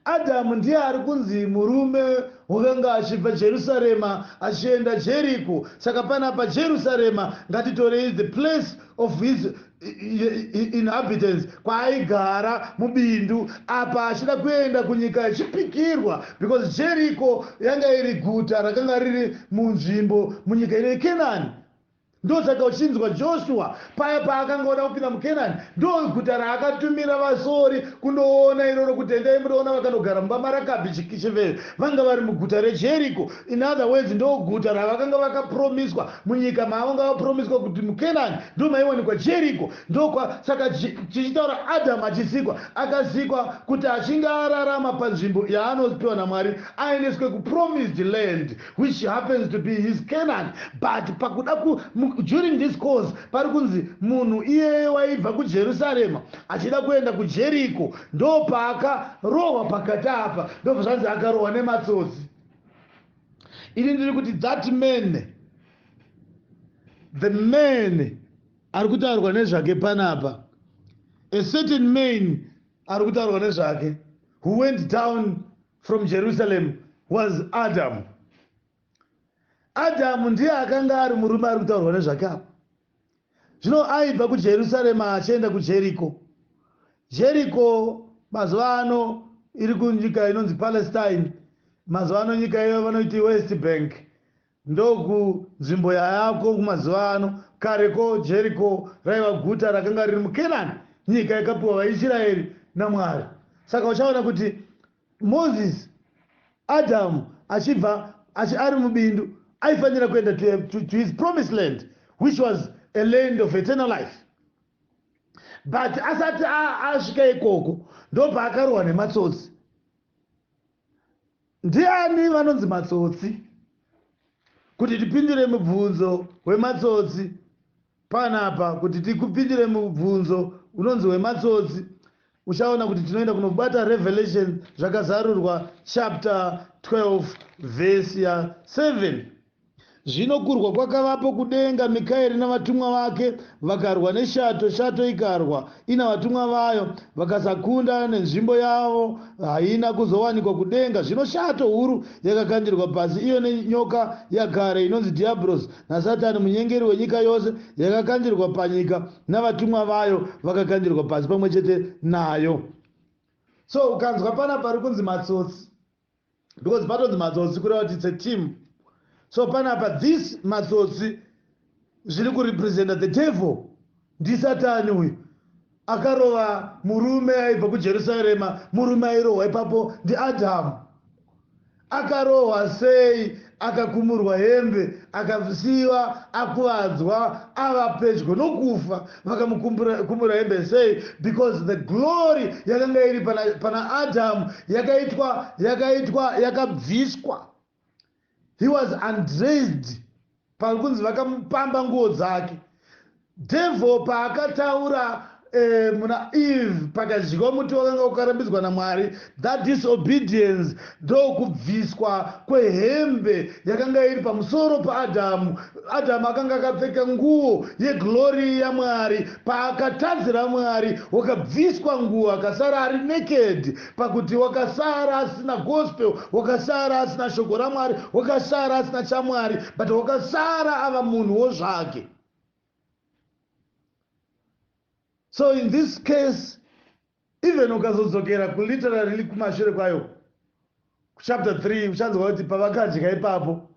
Adhamu ndiye ari kunzi murume wokanga achibva Jerusarema achienda Jeriko. Saka panapa Jerusarema ngatitorei the place of his inhabitants kwaaigara mubindu apa achida kuenda kunyika yechipikirwa because Jeriko yanga iri guta rakanga riri munzvimbo munyika ino yeKenani. Ndosaka uchinzwa Joshua paya paakanga oda kupinda muKenani, ndoguta raakatumira vasori kundoona iroro kuti endai mundoona vakanogara mumba maRakabhi chiveve, vanga vari muguta reJeriko, in other words ndoguta ravakanga vakapromiswa munyika maavanga vapromiswa kuti muKenani ndomaiwanikwa Jeriko, ndokwa saka tichitaura Adam achisikwa akasikwa kuti achinge ararama panzvimbo yaanopiwa naMwari aendeswe kupromised land, which happens to be his Canaan but pakuda ku during this course pari kunzi munhu iyeye waibva kuJerusarema achida kuenda kuJeriko ndopaakarohwa pakati apa ndobva zvanzi akarohwa nematsotsi ini ndiri kuti that man the man ari kutaurwa nezvake panapa a certain man ari kutaurwa nezvake who went down From Jerusalem was Adam. Adam ndiye akanga ari murume ari kutaurwa nezvake apa. Zvino aibva kuJerusalem achienda kuJericho. Jericho mazuva ano iri kunyika inonzi Palestine. Mazuva ano nyika iyo vanoiti West Bank. Ndoku nzvimbo yayako kumazuva ano. Kare ko, Jeriko raiva guta rakanga riri muKenani, nyika yakapiwa vaIsiraeri naMwari. Saka uchaona kuti Mozisi, Adhamu achibva achi, ari mubindu, aifanira kuenda to, to, to his promised land which was a land of eternal life but asati asvika ikoko ndopaakarwa nematsotsi Ndiani vanonzi matsotsi? Kuti tipindire mubvunzo wematsotsi panapa, kuti tikupindire mubvunzo unonzi wematsotsi, uchaona kuti tinoenda kunobata Revelation zvakazarurwa chapter 12 verse ya 7. Zvino kurwa kwakavapo kudenga, Mikaeri navatumwa vake vakarwa neshato, shato ikarwa ina vatumwa vayo, vakasakunda, nenzvimbo yavo haina kuzowanikwa kudenga. Zvino shato huru yakakandirwa pasi, iyo nenyoka yakare, inonzi Dhiabhorosi naSatani, munyengeri wenyika yose, yakakandirwa panyika, navatumwa vayo vakakandirwa pasi pamwe chete nayo. So ukanzwa pana pari kunzi matsotsi, because patonzi matsotsi kureva kuti its a team so panapa this matsotsi zviri kurepresenta the devil ndisatani uyu akarova murume aibva kujerusarema murume airohwa ipapo ndiadhamu akarohwa sei Akakumurwa hembe akasiiwa akuvadzwa ava pedyo nokufa. Vakamukumura hembe sei? Because the glory yakanga iri pana, pana Adam yakaitwa yakaitwa yakabviswa. He was undressed. Pari kunzi vakamupamba nguo dzake. Devil paakataura eh, muna Eve pakadyiwa muti wakanga ukarambidzwa naMwari, that disobedience ndokubviswa kwehembe yakanga iri pamusoro paAdhamu. Adhamu akanga akapfeka nguo yeglory yaMwari, paakatadzira Mwari wakabviswa nguo akasara ari naked, pakuti wakasara asina gospel, wakasara asina shoko raMwari, wakasara asina chaMwari, but wakasara ava munhuwo zvake. so in this case even ukazodzokera kuliterary kumashure kwayo kuchapter 3 uchanzwa kuti pavakadya ipapo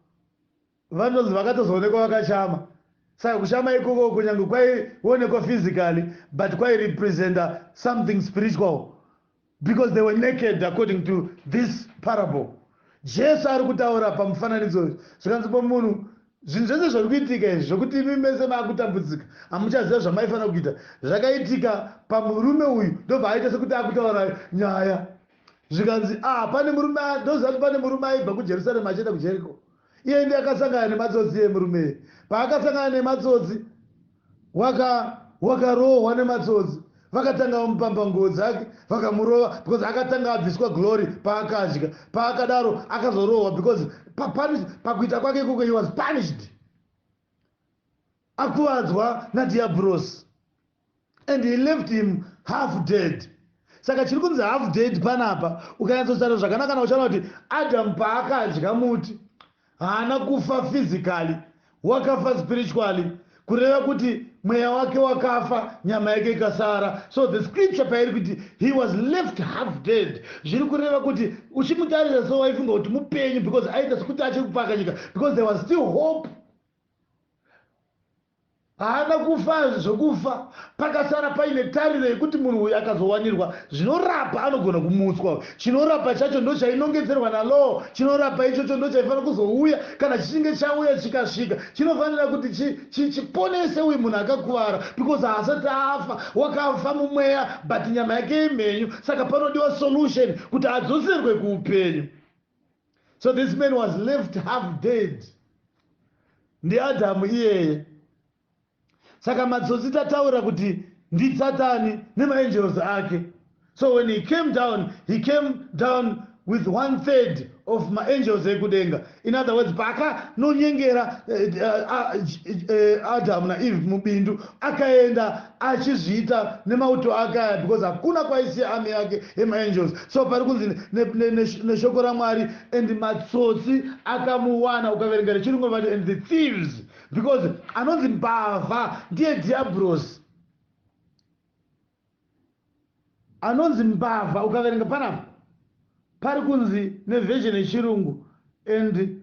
vanonzi vakatozoonekwa vakachama saka kushama ikoko kunyange kwaionekwa physically but kwairepresenta something spiritual because they were naked according to this parable jesu ari kutaura pamufananidzo uyu zvikanzi pomunhu zvinhu zvese zviri kuitika izvi zvokuti imi mese maakutambudzika hamuchaziva zvamaifanira kuita zvakaitika pamurume uyu ndobva aita sekuti akutaura nyaya zvikanzi ah pane murume ndoziva kuti pane murume aibva kujerusarema achienda kujeriko iye ndi akasangana nematsotsi iye murume paakasangana nematsotsi waka wakarohwa nematsotsi vakatanga vamupamba nguo dzake vakamurova because akatanga abviswa glory paakadya paakadaro akazorohwa because papunish pakuita kwake ikoko he was punished akuvadzwa nadiabros and he left him half dead saka chiri kunzi half dead panapa ukanyatsotaura zvakanaka na uchana kuti adam paakadya muti Haana kufa physically, wakafa spiritually, kureva kuti mweya wake wakafa nyama yake ikasara. So the scripture pairi kuti he was left half dead zviri kureva kuti uchimutarisa so waifunga kuti mupenyu because aita sekuti achiri kupaka nyika because there was still hope Haana kufa zvekufa pakasara paine tariro yekuti munhu uyu akazowanirwa zvinorapa anogona kumutswa. Chinorapa chacho ndochainongedzerwa naLaw. Chinorapa ichocho ndochaifanira kuzouya kana chichinge chauya chikasvika. Chinofanira kuti chi, chi, chiponese uyu munhu akakuvara because haasati afa. Wakafa mumweya but nyama yake imhenyu saka panodiwa solution kuti adzoserwe kuupenyu. So this man was left half dead ndiAdhamu iyeye. Saka matsotsi tataura kuti ndiSatani nemaangels ake. So when he came down, he came down with one third of maangels ekudenga in other words paakanonyengera eh, eh, eh, adamu naeve mubindu akaenda achizviita nemauto ake aya because hakuna kwaisiya army yake yemaangels so pari kunzi neshoko ne, ne, ne, ne ramwari and matsotsi akamuwana ukaverenga rechirungu vati and the thieves because anonzi mbavha ndiye diabros anonzi mbavha ukaverenga panapa pari kunzi neversion yechirungu and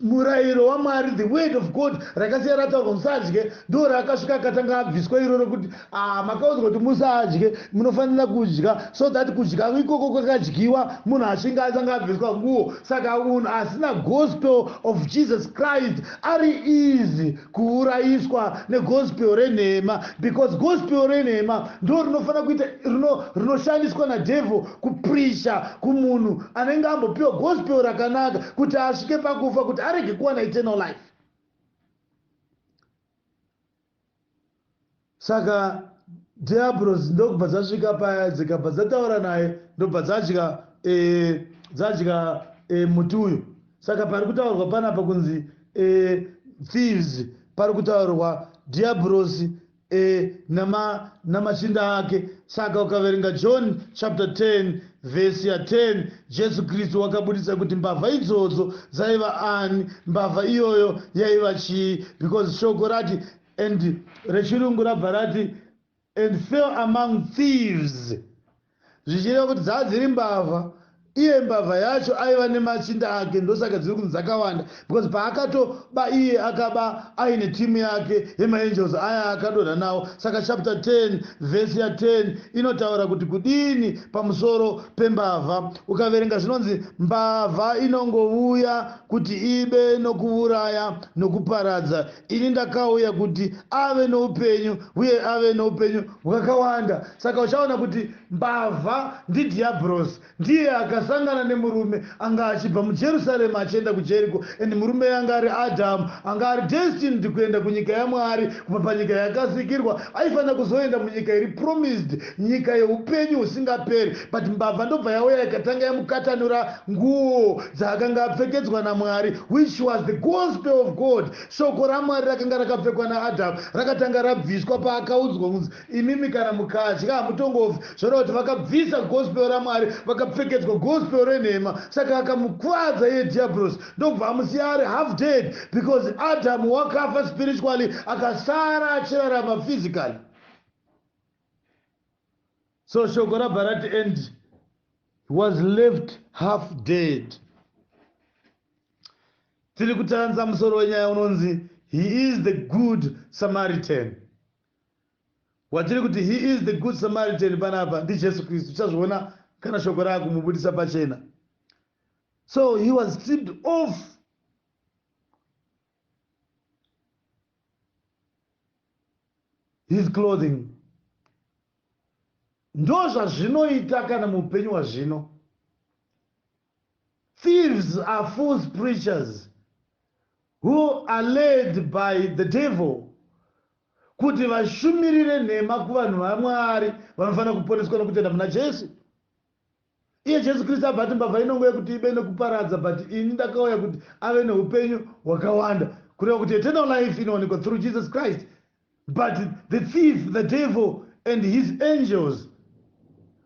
murayiro wamwari the word of god rakasiya rataurwa musadye ndo raakasvika akatanga abviswa iroro kuti ah makaudzwa kuti musadye munofanira kudya so that kudya ikoko kwakadyiwa munhu ashinga atanga abviswa nguo saka munhu asina gospel of jesus christ ari easy kuurayiswa negospel renhema because gospel renhema ndo rinofanira kuita rino rinoshandiswa nadevil kupricha kumunhu anenge ambopiwa gospel rakanaka kuti asvike pakufa kuti arege kuwana eternal life Saka diabros ndokubva dzasvika paya dzikabva dzataura naye ndobva dzadya e, dzadya e, muti uyu saka pari kutaurwa panapa kunzi e, thieves pari kutaurwa diabros e, nama, namachinda ake saka ukaverenga john chapter 10 vhesi ya 10 jesu kristu wakabudisa kuti mbavha idzodzo dzaiva ani mbavha iyoyo yaiva chii because shoko rati And rechirungu rabva rati and fell among thieves zvichireva kuti dzava dziri mbavha iye mbavha yacho aiva nemachinda ake ndosaka dziri kunzi dzakawanda because paakatoba iye akaba aine timu yake yemaangels aya akadonha nawo saka chapter 10 vhesi ya10 inotaura kuti kudini pamusoro pembavha ukaverenga zvinonzi mbavha inongovuya kuti ibe nokuuraya nokuparadza Ini ndakauya kuti ave noupenyu uye ave noupenyu hwakawanda. Saka uchaona kuti mbavha ndiDhiabhorosi. Ndiye akasangana nemurume anga achibva muJerusarema achienda kuJeriko and murumeyu anga ari Adhamu. Anga ari destined kuenda kunyika yaMwari kubva panyika yakasikirwa. Aifanira kuzoenda munyika iri promised Nyika yeupenyu husingaperi. But mbavha ndobva yauya ikatanga yamukatanura nguwo dzaakanga apfekedzwa naMwari which was the gospel of God. Shoko raMwari rakanga rakapfekwa naAdam rakatanga rabviswa paakaudzwa kunzi imimi kana mukadya hamutongofi. Zvoreva kuti vakabvisa gospel raMwari vakapfekedzwa gospel renhema saka akamukuvadza iye Dhiyabhorosi ndokubva amusiya ari half dead because Adam wakafa spiritually akasara achirarama physically. so shoko rabva rati and was left half dead tiri kutanza musoro wenyaya unonzi he is the good samaritan watiri kuti he is the good samaritan panapa ndijesu kristu tichazviona kana shoko raakumubudisa pachena so he was stripped off his clothing ndozvazvinoita kana mupenyu wazvino thieves are fools preachers who are led by the devil kuti vashumirire nhema kuvanhu vamwari vanofanira kuponeswa nokutenda muna jesu Iye Jesu Kristu abva ati mbavha inongo yekuti ibe nekuparadza but ini ndakauya kuti ave neupenyu hwakawanda kureva kuti eternal life inowanikwa through Jesus Christ but the thief the devil and his angels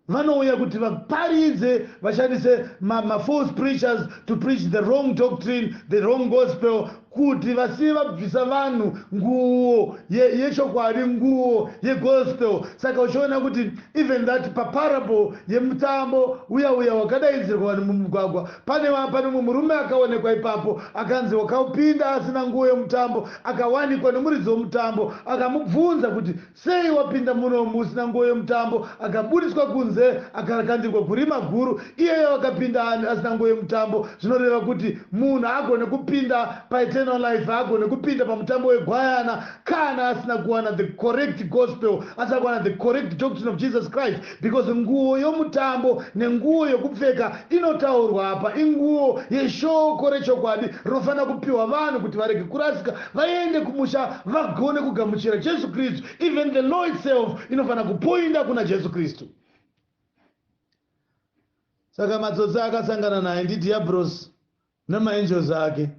vanouya kuti vaparidze vashandise mafalse ma preachers to preach the wrong doctrine the wrong gospel Kuti vasiye vabvisa vanhu nguwo ye yechokwadi nguwo ye gospel saka uchiona kuti even that pa parable yemutambo uya uya wakadaidzirwa vanhu mumugwagwa pane wa pane umwe murume akaonekwa ipapo akanzi wakapinda asina nguwo yomutambo akawanikwa nomuridzi womutambo akamubvunza kuti Sei wapinda muno musina nguo yemutambo? Akabudiswa kunze akarakandirwa kurima guru. Iyeyo akapinda ani asina nguo yemutambo? Zvinoreva kuti munhu haagone kupinda paEternal Life, haagone kupinda pamutambo weGwayana kana asina kuwana the correct Gospel, asina kuwana the correct doctrine of Jesus Christ. Because nguwo yomutambo nenguwo yokupfeka inotaurwa apa inguwo yeshoko rechokwadi rinofanira kupiwa vanhu kuti varege kurasika vaende kumusha vagone kugamuchira Jesu Kristu. Even the law itself inofanira kupoinda kuna Jesu Kristu. Saka matsotsi akasangana naye ndidhiabhurosi namaangels ake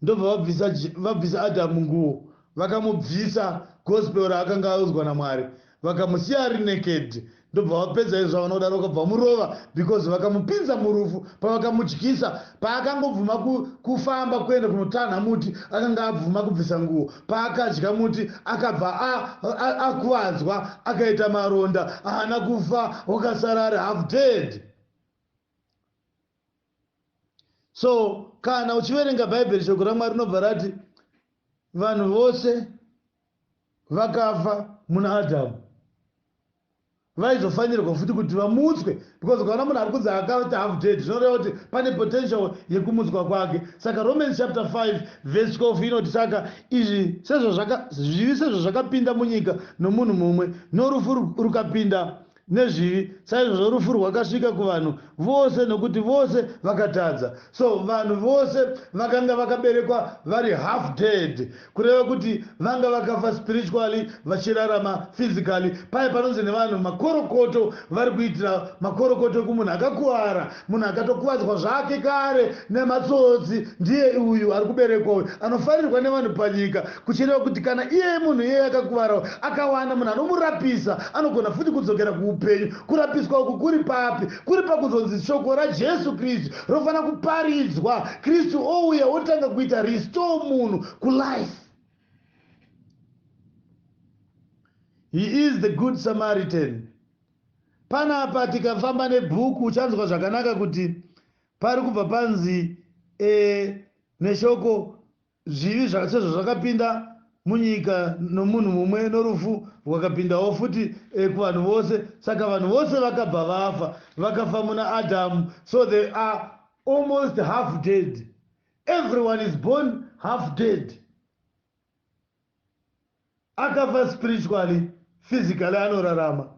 ndobva vabvisa vabvisa Adam nguwo vakamubvisa gospel raakanga audzwa naMwari vakamusiya ari naked ndobva vapedza izvo zvavanoda rokabva murova because vakamupinza murufu pavakamudyisa paakangobvuma kufamba kuenda kunotanha muti akanga abvuma kubvisa nguwo paakadya muti akabva akuvadzwa akaita maronda ahana kufa wakasara ari half dead so kana uchiverenga bhaibheri shoko ramwari rinobva rati vanhu vose vakafa muna adhamu vaizofanirwa futi kuti vamutswe because ukaona munhu ari kunzi akati half dead zvinoreva kuti pane potential yekumutswa kwake saka romans chapter 5 vese 12 inoti saka izvi sezvazvivi sezvazvakapinda munyika nomunhu mumwe norufu rukapinda nezvivi saizvozvo rufu rwakasvika kuvanhu vose nokuti vose vakatadza so vanhu vose vakanga vakaberekwa vari half dead kureva kuti vanga vakafa spiritually vachirarama physically paye panonzi nevanhu makorokoto vari kuitira makorokoto ekumunhu akakuvara Munhu akatokuvadzwa zvake kare nematsotsi ndiye uyu ari kuberekwa uyu anofarirwa nevanhu panyika kuchireva kuti kana iyeye munhu iyeye akakuvarawo akawana munhu anomurapisa anogona futi kudzokera kuupenyu. Kurapiswa uku kuri papi? Kuri pakuzonzi shoko raJesu Kristu rofanira kuparidzwa, Kristu ouya otanga kuita restore munhu kulife. He is the good Samaritan. Panapa tikafamba nebook uchanzwa zvakanaka kuti pari kubva panzi e neshoko zvivi sezvo zvakapinda munyika nomunhu mumwe norufu rwakapindawo futi e kuvanhu vose saka vanhu vose vakabva vafa vakafa muna adhamu so they are almost half dead everyone is born half dead Akafa spiritually, physically anorarama.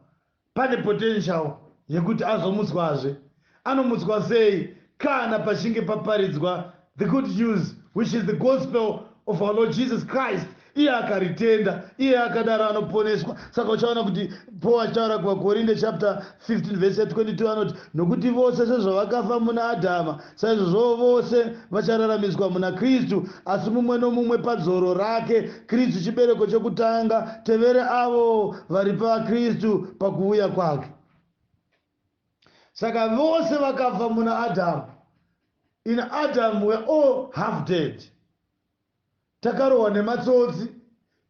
Pane potential yekuti azomutswazve. Anomutswa sei? Kana pachinge paparidzwa the good news which is the gospel of our Lord Jesus Christ iye akaritenda iye akadaro anoponeswa saka uchaona kuti paul achitaura kuvakorinde chapter 15 vhesi 22 anoti, Nokuti vose sezvavakafa muna Adhama, saizvozvowo vose vachararamiswa muna Kristu, asi mumwe nomumwe padzoro rake, Kristu chibereko chokutanga, tevere avo vari paKristu pakuvuya kwake. Saka vose vakafa muna Adhama. In Adam we're all half dead. Takarohwa nematsotsi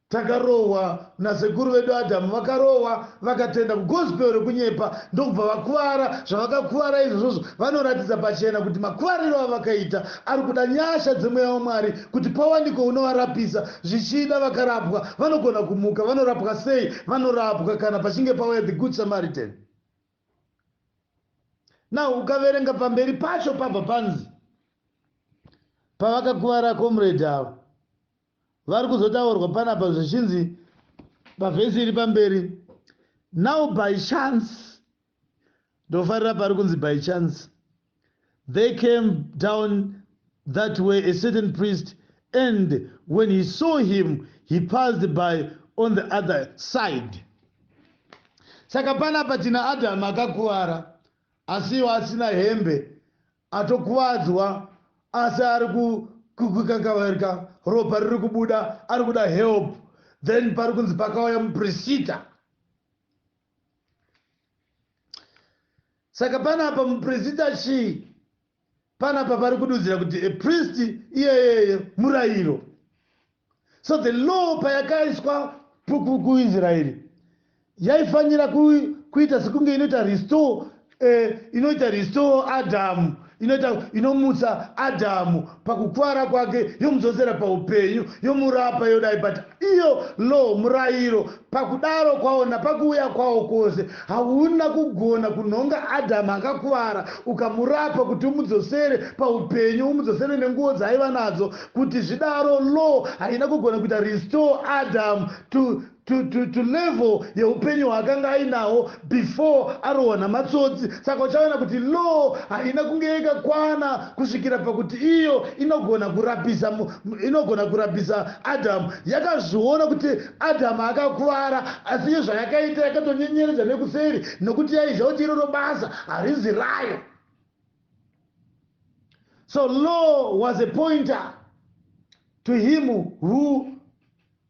takarohwa nasekuru vedu Adam vakarohwa vakatenda kugospel rekunyepa ndokubva vakuvara zvavakakuvara izvozvozvo vanoratidza pachena kuti makuvariro avakaita ari kuda nyasha dzemweya waMwari kuti pawanike unovarapisa zvichida vakarapwa vanogona kumuka vanorapwa sei vanorapwa kana pachinge pauya the good Samaritan Now ukaverenga pamberi pacho pabva panzi pavakakuvara comrade ava vari kuzotaurwa panapa zvichinzi pavhesi iri pamberi now by chance ndofarira pari kunzi by chance They came down that way, a certain priest, and when he saw him, he passed by on the other side. Saka panapa tina Adamu akakuvara asi iwo asina hembe atokuvadzwa asi ari kukakavarika ropa riri kubuda ari kuda help then pari kunzi pakauya muprisita saka panapa muprista chii panapa pari kududzira kuti a priest iyeyeye murayiro so the law payakaiswa kuisraeri yaifanira kuita sekunge inoita restore Eeh inoita restore Adam inoita inomutsa Adam pakukuvara kwake yomudzosera paupenyu yomurapa yodai but iyo law murairo pakudaro kwawo napakuuya kwawo kwose hauna kugona kunhonga Adam akakuvara ukamurapa kuti umudzosere paupenyu umudzosere nenguwo dzaaiva nadzo kuti zvidaro law haina kugona kuita restore Adam to to, to, to level yeupenyu hwaakanga ainawo before arohwa namatsotsi saka uchaona kuti law haina kunge yakakwana kusvikira pakuti iyo inogona kurapisa inogona kurapisa adamu yakazviona kuti adamu akakuvara asi iyo zvayakaita yakatonyenyeredza nekuseri nokuti yaizva kuti iroro basa harizi rayo so law was a pointer to him who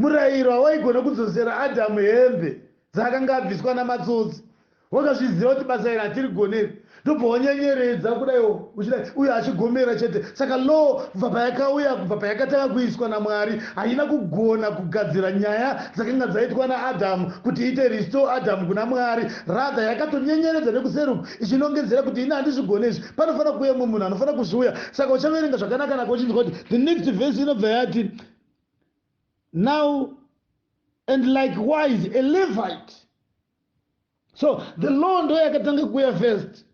Murayiro hawaigona kudzosera Adhamu hembe dzaakanga abviswa namatsotsi. Wakazviziva kuti basa iri hatirigone iri, ndobva wanyenyeredza kudaiwo uchidai uyo achigomera chete. Saka law kubva payakauya, kubva payakatanga kuiswa naMwari, haina kugona kugadzira nyaya dzakanga dzaitwa naAdhamu kuti iite restore Adhamu kuna Mwari. Rather yakatonyenyeredza nekuseri uku ichinongedzera kuti ini handizvigone izvi, panofanira kuuya umwe munhu anofanira kuzviuya. Saka uchaverenga zvakanakanaka uchinzwa kuti the next verse inobva yati, Now, and likewise a Levite. So the law ndo yakatanga kuuya first.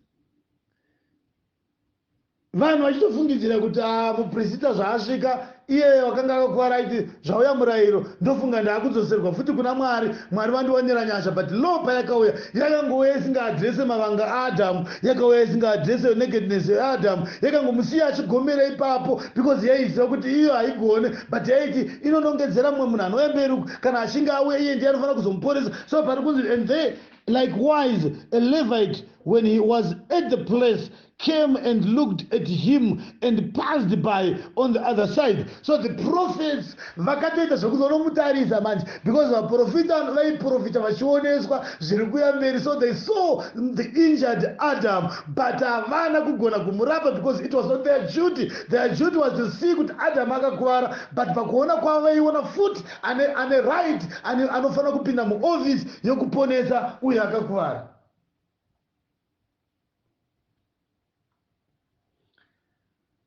Vanhu vachitofungidzira kuti ah, muprista zvaasvika iye wakanga akakwara aiti zvauya murayiro ndofunga ndaakudzoserwa futi kuna Mwari, Mwari vandiwanira nyasha but law payakauya yakangouya isingaadrese mavanga aAdhamu, yakauya isingaadrese nakedness yaAdhamu, yakangomusiya achigomera ipapo. because yaiziva kuti iyo haigone but yaiti inonongedzera mumwe munhu anouya mberi uku kana achinge auya iye ndiye anofanira kuzomuporesa so pari kunzi and there likewise a levite when he was at the place came and looked at him and passed by on the other side so the prophets Vakatoita zvekuzonomutarisa manje because vaprofita vaiprofita vachioneswa zviri kuya mberi so they saw the injured Adam but havana kugona kumurapa because it was not their duty. Their duty was to see kuti Adam akakuvara but pakuona kwavo vaiona futi ane, ane right ane, anofanira kupinda muoffice yokuponesa uyo akakuvara.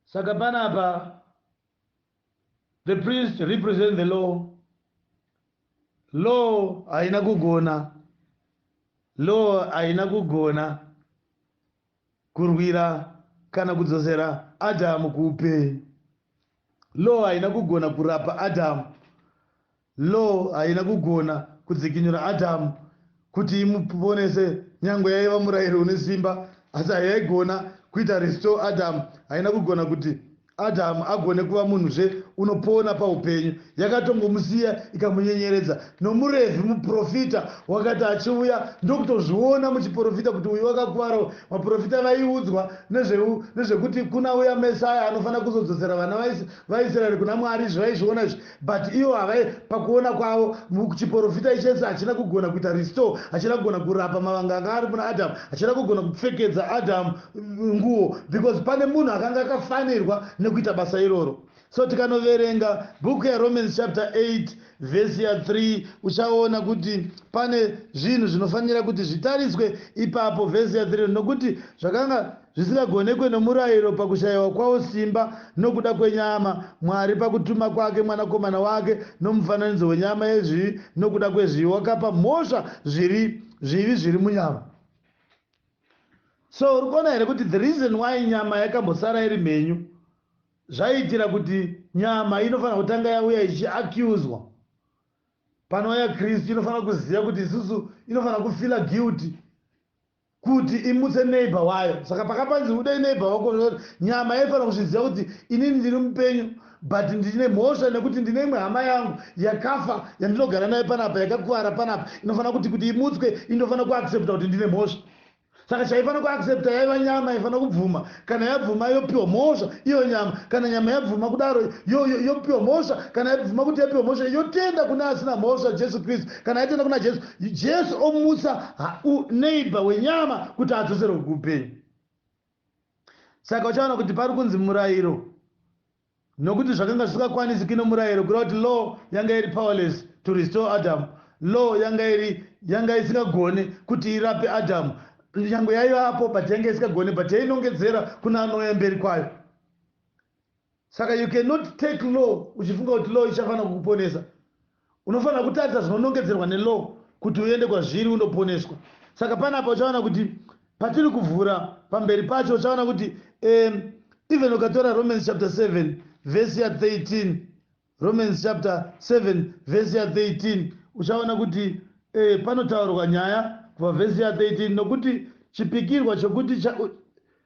Saka panapa The priest represent the law. Law haina kugona. Law haina kugona kurwira kana kudzosera Adamu kuupenyu. Law haina kugona kurapa Adamu Law haina kugona kudzikinura Adamu kuti imuponese nyangwe yaiva murayiro une simba asi hayaigona kuita restore Adamu haina kugona kuti Adamu agone kuva munhuzve unopona paupenyu yakatongomusiya ikamunyenyeredza nomuRevhi muprofita wakati achiuya ndokutozviona muchiprofita kuti uyu wakakuvarawo vaprofita vaiudzwa nezvekuti kuna uya Messiah anofanira kuzodzosera vana vaIsraeri kuna Mwari izvi vaizviona izvi But iwo havae pakuona kwavo chiporofita ichese hachina kugona kuita restore hachina kugona kurapa mavanga anga ari muna Adam hachina kugona kupfekedza Adam nguwo because pane munhu akanga akafanirwa nekuita basa iroro so tikanoverenga bhuku yaromans chapter 8 vhesi ya 3 uchaona kuti pane zvinhu zvinofanira kuti zvitariswe ipapo vhesi ya 3 nokuti zvakanga zvisingagonekwe nomurayiro pakushaiwa kwawo simba nokuda kwenyama, Mwari pakutuma kwake Mwanakomana wake nomufananidzo wenyama yezvivi nokuda kwezvivi wakapa mhosva zviri zvivi zviri munyama. So uri kuona here kuti the reason why nyama yakambosara iri mhenyu zvaiitira kuti nyama inofanira kutanga yauya ichiaccuswa panouya Kristu inofanira kuziva kuti isusu inofanira kufila guilty kuti imutse neighbor wayo saka pakapanzi udei neighbor wako zvakuti nyama yaifanira kuzviziva kuti inini ndiri mupenyu but ndine mhosva nekuti ndine imwe hama yangu yakafa yandinogara nayo panapa yakakuvara panapa inofanira kuti kuti imutswe indofanira kuaccepta kuti ndine mhosva saka chaifanira kuaccepta yaiva nyama yaifanira kubvuma kana yabvuma yopiwa mhosva iyo nyama kana nyama yabvuma kudaro yopiwa mhosva kana yabvuma kuti yapiwa mhosva yotenda kune asina mhosva jesu kristu kana yatenda kuna jesu Jesu omutsa neighbor wenyama kuti adzoserwe kuupenyu. Saka uchaona kuti pari kunzi murayiro nokuti zvakanga zvisingakwanisi kino murayiro kureva kuti law yanga iri powerless to restore Adam. Law yanga iri yanga isingagone kuti irape Adam. Nyangwe yaivapo but yanga isingagone but yainongedzera kuna anouya mberi kwayo. Saka you cannot take law uchifunga kuti law ichafanira kukuponesa. Unofanira kutarisa zvinonongedzerwa nelaw kuti uende kwazviri unoponeswa. Saka panapa uchaona kuti patiri kuvhura pamberi pacho uchaona kuti um, even ukatora Romans chapter 7 verse ya 13 Romans chapter 7 verse ya 13 uchaona kuti eh, panotaurwa nyaya kubva verse ya 13 nokuti chipikirwa chokuti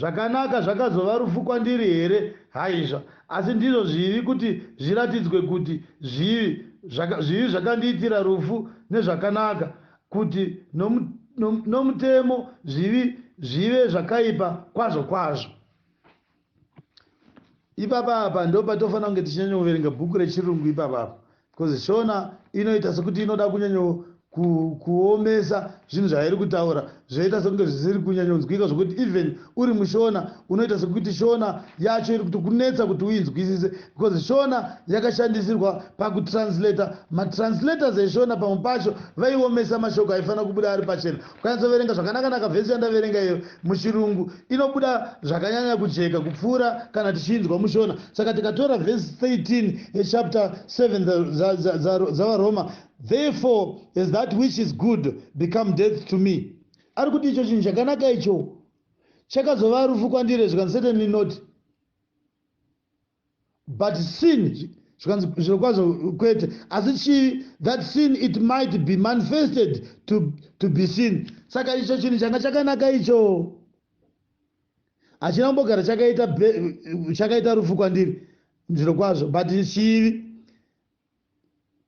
Zvakanaka zvakazova rufu kwandiri here? Haizva. Asi ndizvo zvivi kuti zviratidzwe kuti zvivi. Zvaka, zvivi zvakandiitira rufu nezvakanaka, kuti nomu, nom, nomutemo zvivi zvive zvakaipa kwazvo kwazvo. Ipapa apa ndopatofanira kunge tichinyanyoverenga bhuku rechirungu ipapa apa because shona inoita sekuti inoda kunyanyo ku, kuomesa zvinhu zvairi kutaura zvoita sekunge zvisiri kunyanyonzwika zvokuti even uri mushona unoita sekuti shona yacho iri kuti kunetsa kuti uinzwisise because shona yakashandisirwa pakutranslata matranslatas eshona pamwe pacho vaiomesa mashoko aifanira kubuda ari pachena Ukanyatsoverenga zvakanakanaka vhesi yandaverenga iyoyo muChirungu inobuda zvakanyanya kujeka kupfuura kana tichiinzwa muShona. Saka tikatora vhesi 13 yechapter 7 dzaVaRoma, Therefore has that which is good become death to me. Ari kuti icho chinhu chakanaka icho chakazova rufu kwandiri, as you can certainly note. but sin zvikanzi zviro kwazvo kwete asi chii that sin it might be manifested to, to be sin saka icho chinhu changa chakanaka icho hachina kumbogara chakaita chakaita rufu kwandiri zviro kwazvo but chivi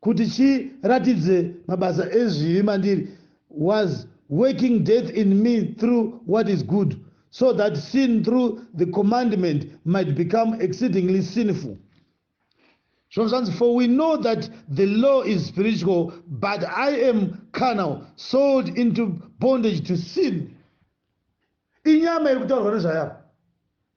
kuti chiratidze mabasa ezvivi mandiri was working death in me through what is good so that sin through the commandment might become exceedingly sinful zvino zvanzi for we know that the law is spiritual but i am carnal sold into bondage to sin inyama iri kutaurwa nezvayo apa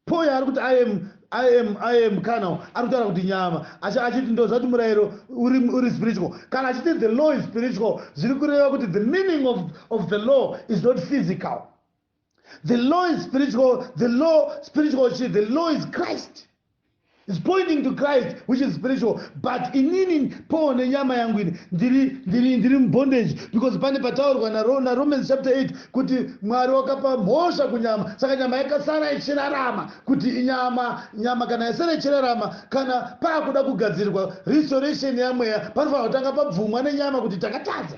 Poi ari kuti I am I am I am car now ari kutaura kuti nyama asi achiti ndozvati murayiro uri uri spiritual kana achiti the law is spiritual zviri kureva kuti the meaning of of the law is not physical the law is spiritual the law spiritual chi the law is Christ is pointing to christ which is spiritual but inini paul nenyama yangu ini ndiri ndiri ndiri mubondage because pane pataurwa naromans chapter 8 kuti mwari wakapa mhosva kunyama saka nyama yakasara ichirarama kuti inyama nyama kana yasara ichirarama kana paakuda kugadzirirwa restoration yamweya panofanira kutanga pabvumwa nenyama kuti takatadza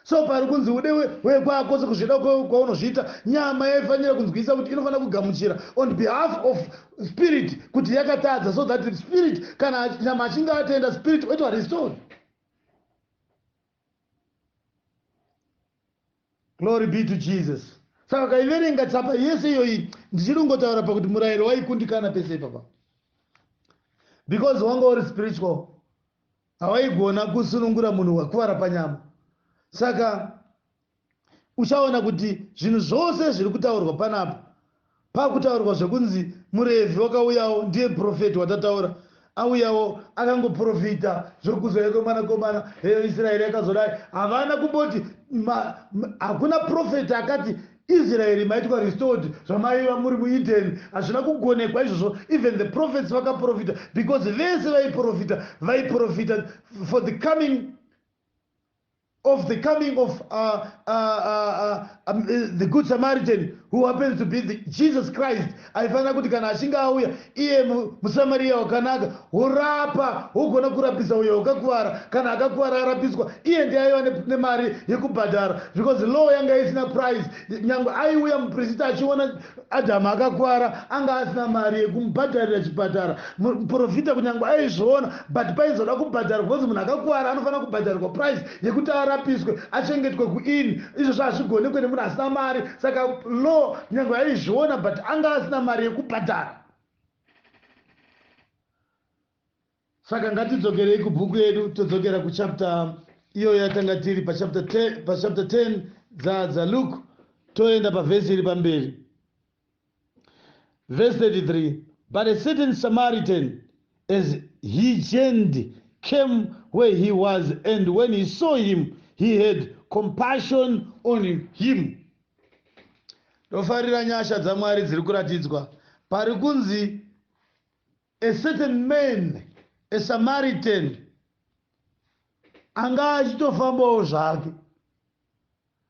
So pari kunzi ude wekwako sekuzvida kwaunozviita, nyama yaifanira kunzwisisa kuti inofanira kugamuchira on behalf of spirit kuti yakatadza so that spirit kana nyama achinge atenda spirit oitwa restored. Glory be to Jesus. Saka kaiverenga tsapa yese iyoyi ndichiri kungotaura pakuti murayiro waikundikana pese ipapa because wanga uri spiritual Hawaigona kusunungura munhu wakuvara panyama. Saka uchaona kuti zvinhu zvose zviri kutaurwa panapa, pakutaurwa zvekunzi muRevhi wakauyawo ndiye purofeti watataura, auyawo akangoprofita zvokuzouya kweMwanakomana, heyo Isiraeri yakazodai. Havana kumboti, ma, ma, hakuna purofeti akati Israel maitwa restored zvamaiva muri mu Eden hazvina kugonekwa izvozvo even the prophets vakaprofita because vese vaiprofita vaiprofita for the coming of the coming of uh, uh, uh, uh, um, uh, the good samaritan who happens to be the, jesus christ Aifanira kuti kana achinge auya iye mu, muSamariya wakanaka, worapa, wogona kurapisa uyo wakakuvara. Kana akakuvara arapiswa, iye ndiye aiva ne, nemari yekubhadhara, because law yanga isina price. Nyangwe aiuya muprisit achiona Adhamu akakuvara, anga asina mari yekumubhadharira chipatara. Muprofita kunyangwe aizviona, but paizoda kubhadharwa, because munhu akakuvara anofanira kubhadharirwa price yekuti arapiswe achengetwe kuinn izvozvo hazvigonekwe nemunhu asina mari saka law nyange aizviona but anga asina mari yekubhadhara saka ngatidzokerei kubhuku yedu todzokera kuchapter iyoyo yatanga tiri pachapter 10 dzadza luke toenda pavhesi iri pamberi Verse 33 But a certain Samaritan, as he journeyed, came where he was, and when he saw him, he had compassion on him. Ndofarira nyasha dzaMwari dziri kuratidzwa pari kunzi a certain man a Samaritan anga achitofambawo zvake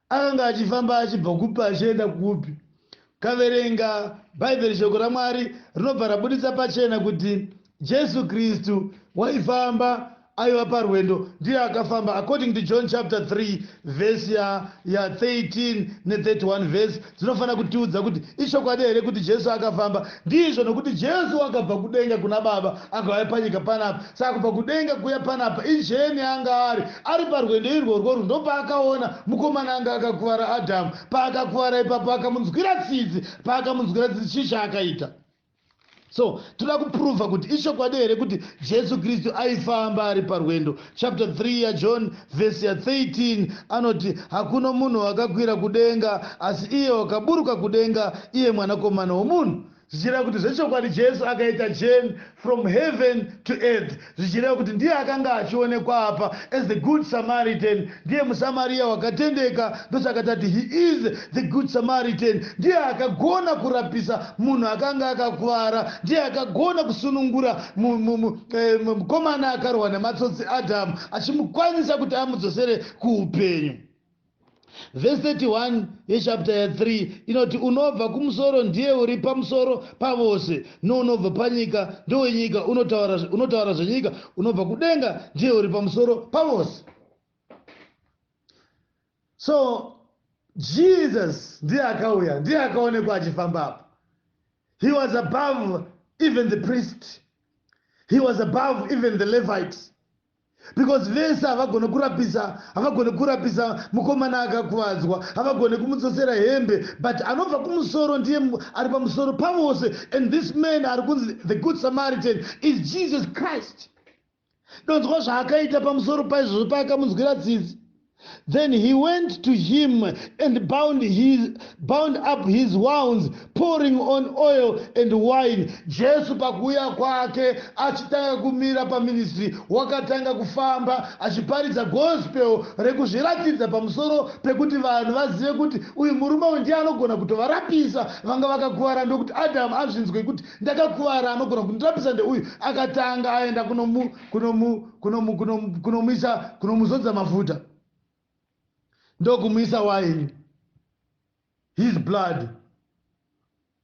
Akanga achifamba achibva kupi achienda kupi? Kaverenga Bhaibheri Shoko raMwari rinobva rabuditsa pachena kuti Jesu Kristu waifamba aiva parwendo ndiye akafamba according to John chapter 3 verse ya, ya 13 ne 31 verse dzinofanira kutiudza kuti ichokwadi here kuti Jesu akafamba. Ndizvo, nokuti Jesu wakabva kudenga kuna Baba akauya panyika panapa. Saka kubva kudenga kuuya panapa injeni yaanga ari. Ari parwendo irworwo rwo ndopaakaona mukomana anga akakuvara Adhamu. Paakakuvara ipapo akamunzwira tsitsi. Paakamunzwira tsitsi chii chaakaita? so toda kupruvha kuti ichokwadi here kuti jesu kristu aifamba ari parwendo chapter 3 yajohn vhesi ya13 anoti hakuna munhu wakakwira kudenga asi iye wakaburuka kudenga iye mwanakomana womunhu zvichireva kuti zvechokwadi jesu akaita jeni from heaven to earth zvichireva kuti ndiye akanga achionekwa apa as the good Samaritan, ndiye muSamaria wakatendeka, ndosaka tati he is the good Samaritan, ndiye akagona kurapisa munhu akanga akakuvara, ndiye akagona kusunungura mukomana akarwa nematsotsi Adam achimukwanisa kuti amudzosere kuupenyu. Vhesi 31 yechapita ya 3 inoti, Unobva kumusoro ndiye uri pamusoro pavose, nounobva panyika ndowenyika, unotaura, unotaura zvenyika, unobva kudenga ndiye uri pamusoro pavose. So Jesus ndiye akauya, ndiye akaonekwa achifamba apo. He was above even the priest. He was above even the Levites. Because vese havagone kurapisa havagone kurapisa mukomana akakuvadzwa havagone kumudzosera hembe but anobva kumusoro ndiye ari pamusoro pavose and this man ari kunzi the good samaritan is jesus christ donzwa zvaakaita pamusoro paizvozvo paakamunzwira tsitsi Then he went to him and bound, his, bound up his wounds, pouring on oil and wine. Jesu pakuuya kwake achitanga kumira paministry, wakatanga kufamba achiparidza gospel rekuzviratidza pamusoro pekuti vanhu vazive kuti uyu murume uyu ndiye anogona kutovarapisa vanga vakakuvara ndokuti Adam azvinzwe kuti ndakakuvara anogona kundirapisa ndeuyu akatanga aenda kunomu, kunomu kunomuisa kunomuzodza mafuta ndokumuisa waini his blood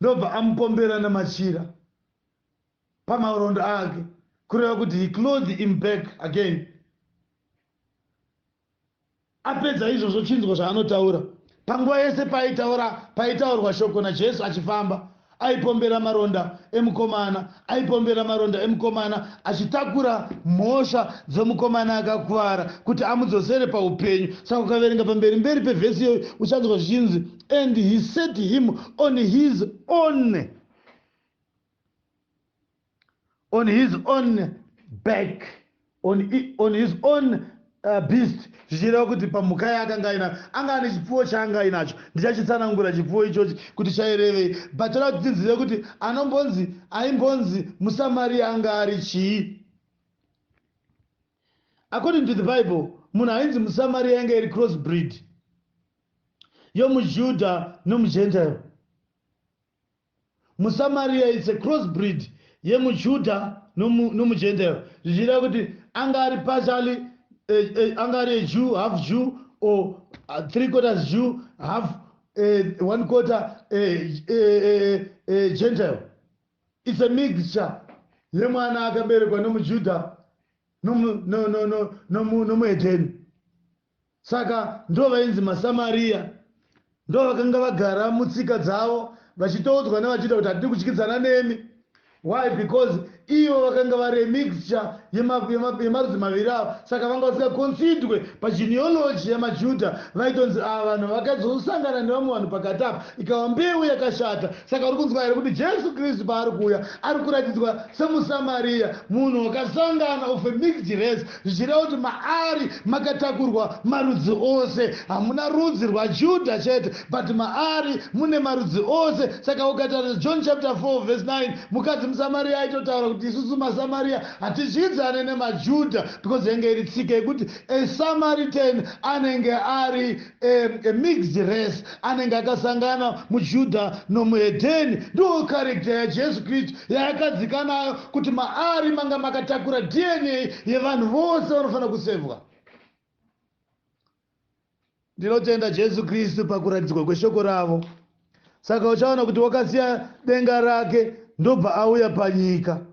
ndobva amupombera namachira pamarondo ake kureva kuti he clothe him back again Apedza izvozvo chinzwa zvaanotaura. Panguva yese paaitaura paitaurwa shoko naJesu achifamba, aipombera maronda emukomana, aipombera maronda emukomana achitakura mhosva dzomukomana akakuvara kuti amudzosere paupenyu. Saka ukaverenga pamberi mberi pevhesi iyoyo uchanzwa zvichinzi and he set him on his own on his own back on, on his own uh, beast zvichireva kuti pamhuka yaakanga aina anga ane chipfuwo chaanga ainacho ndichachitsanangura chipfuwo ichochi kuti chairevei but toda kuti tinzive kuti anombonzi aimbonzi musamariya anga ari chii according to the bible munhu ainzi musamariya yanga iri cross breed yomujudha nomugentile muSamaria it's a crossbreed yemuJuda nomu nomuGentile zvichireva kuti anga ari partially eh, eh, anga ari a Jew half Jew or uh, three quarters Jew half eh, one quarter eh, eh, eh, eh, Gentile it's a mixture yemwana akaberekwa nomuJuda nomu no, no, no, nomu nomuHedeni Saka ndivo vainzi maSamariya. Ndivo vakanga vagara mutsika dzavo vachitoudzwa nevaJudha kuti hatidi kudyidzana nemi. Why? Because ivo vakanga vari a mixture yemarudzi maviri ava saka vanga vasingaconsidwe pageneology yamaJudha vaitonzi ava vanhu vakazosangana nevamwe vanhu pakati apa ikava mbeu yakashata. Saka uri kunzwa here kuti Jesu Kristu paari kuuya ari kuratidzwa semuSamariya, munhu wakasangana of a mixed race. zvichireva kuti maari makatakurwa marudzi ose. Hamuna rudzi rwaJudha chete but maari mune marudzi ose. Saka ukatarisa John chapter 4 verse 9 mukadzi muSamaria aitotaura kuti isusu maSamaria hatidyidzane nemaJudha because yanga iri tsika yekuti a Samaritan anenge ari A, a mixed race, anenge akasangana muJudha nomuhedheni. Ndiwo character yaJesu Kristu yaakadzika nayo kuti maari manga makatakura DNA yevanhu vose vanofanira kusevwa. Ndinotenda Jesu Kristu pakuratidzwa kweshoko ravo. Saka uchaona kuti wakasiya denga rake ndobva auya panyika.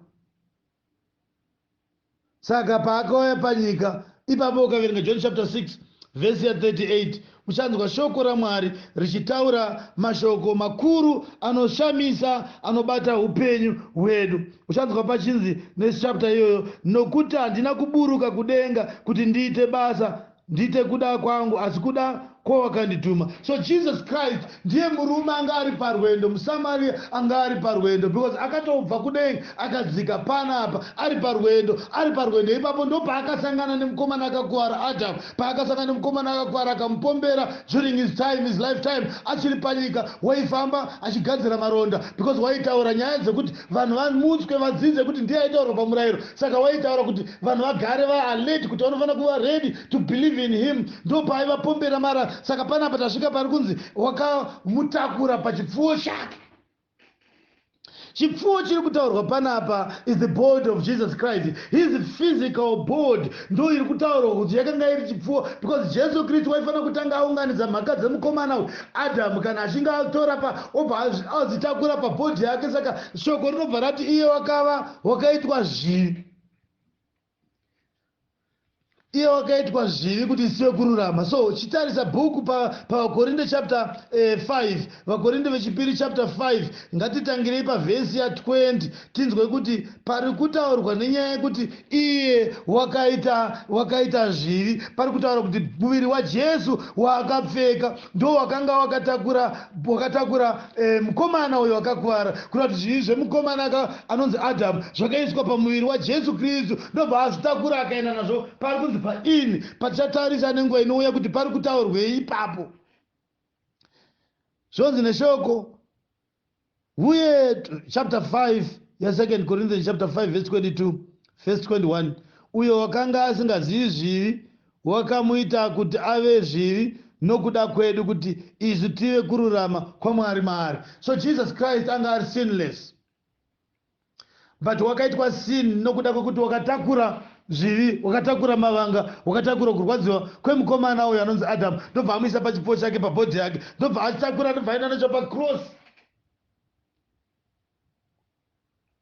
saka paakauya panyika ipapo ukaverenga john chapter 6 vhesi ya 38 uchanzwa shoko ramwari richitaura mashoko makuru anoshamisa anobata upenyu hwedu uchanzwa pachinzi nechapta iyoyo nokuti handina kuburuka kudenga kuti ndiite basa ndiite kuda kwangu asi kuda kwawakandituma so jesus christ ndiye murume anga ari parwendo musamaria anga ari parwendo because akatobva kudenga akadzika panapa ari parwendo ari parwendo ipapo ndopaakasangana nemukomana akakuvara adam paakasangana nemukomana akakuvara akamupombera during his time his life time achiri panyika waifamba achigadzira maronda because waitaura nyaya dzekuti vanhu vamutswe vadzidze kuti ndiye aitaura pamurayiro saka waitaura kuti vanhu vagare va alert kuti vanofanira kuva ready to believe in him ndopaivapombera mara saka panapa tasvika pari kunzi wakamutakura pachipfuwo chake chipfuwo chiri kutaurwa panapa is the board of jesus christ his physical board ndo iri kutaurwa kuti yakanga iri chipfuwo because jesu kristu waifanira kutanga aunganidza mhaka dzemukomana uyu adamu kana achinge atora pa obva azitakura pabhodhi yake saka shoko rinobva rati iye wakava wakaitwa zvivi iye wakaitwa zvivi kuti isive kururama so chitarisa bhuku pavakorinde pa chapter 5 eh, vakorinde vechipiri chapter 5 ngatitangirei pavhesi ya 20 tinzwe kuti pari kutaurwa nenyaya yekuti iye wakaita wakaita zvivi pari kutaura kuti muviri wajesu waakapfeka ndowakanga wakatakura wakatakura eh, mukomana uyo akakuvara kureva kuti zvivi zvemukomana anonzi adamu zvakaiswa pamuviri wajesu kristu ndobva azvitakura akaenda nazvo pari kunzi paini patichatarisa nenguva inouya kuti pari kutaurwei ipapo zvonzi neshoko Uye chapter 5 yaSecond Corinthians chapter 5 verse 22 verse 21 uyo wakanga asingazivi zvivi wakamuita kuti ave zvivi nokuda kwedu kuti isu tive kururama kwaMwari maari. So Jesus Christ anga ari sinless. but wakaitwa sin nokuda kwekuti wakatakura zvivi wakatakura mavanga wakatakura kurwadziwa kwemukomana uyo anonzi adam ndobva amuisa pachipfuwo chake pabhodhi yake ndobva atakura ndobva aenda nacho pacross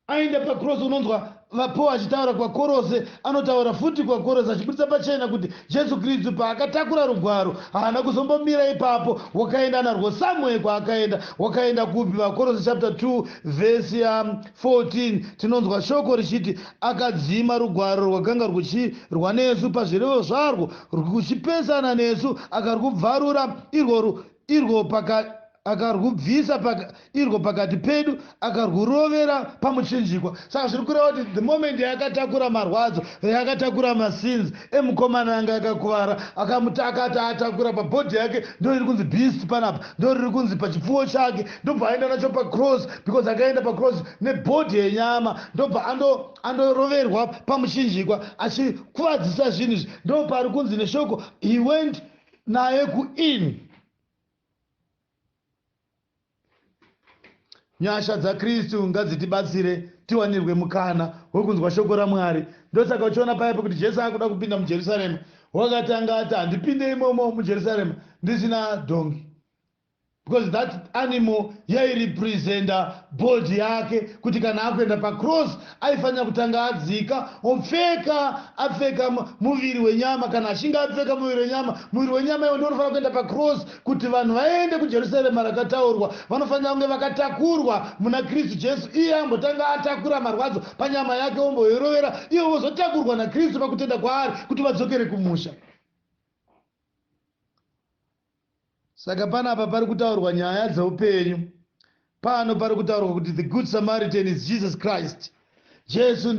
aenda pacross unonzwa vapo achitaura kwakorose anotaura futi kwakorose achibudisa pachena kuti Jesu Kristu paakatakura rugwaro haana kuzombomira ipapo wakaenda narwo somewhere kwaakaenda wakaenda kupi vakorose chapter 2 verse ya 14 tinonzwa shoko richiti akadzima rugwaro rwakanga rwuchirwa nesu pazvirevo zvarwo rwuchipesana nesu akarwubvarura irworwo irwo paka, akarwubvisa paka, irwo pakati pedu akarwurovera pamuchinjikwa saka zviri kureva kuti the moment yaakatakura marwadzo yaakatakura masins emukomana anga akakuvara akamutakati atakura pabhodhi yake ndo iri kunzi beast panapa ndo riri kunzi pachipfuwo chake ndobva aenda nacho pacross because akaenda pacross nebhodhi yenyama ndobva ando andoroverwa pamuchinjikwa achikuvadzisa zvinhu izvi ndo pari kunzi neshoko he went naye kuinn Nyasha dzaKristu ngadzitibatsire tiwanirwe mukana wekunzwa shoko raMwari. Ndosaka uchiona paipo kuti Jesu akuda kupinda muJerusarema, wakatanga ati handipinde imomo muJerusarema ndisina dhongi. because that animal yairepresenta body yake kuti kana akuenda pacross aifanira kutanga adzika opfeka apfeka muviri wenyama kana achinge apfeka muviri wenyama muviri wenyama iwo ndounofanira kuenda pacross kuti vanhu vaende kujerusarema rakataurwa vanofanira kunge vakatakurwa muna kristu jesu iye ambotanga atakura marwadzo panyama yake omboirovera ivo vozotakurwa nakristu pakutenda kwaari kuti vadzokere kumusha Saka panapa pari kutaurwa nyaya dzeupenyu. Pano pari kutaurwa kuti the good Samaritan is Jesus Christ. Jesu ndiye.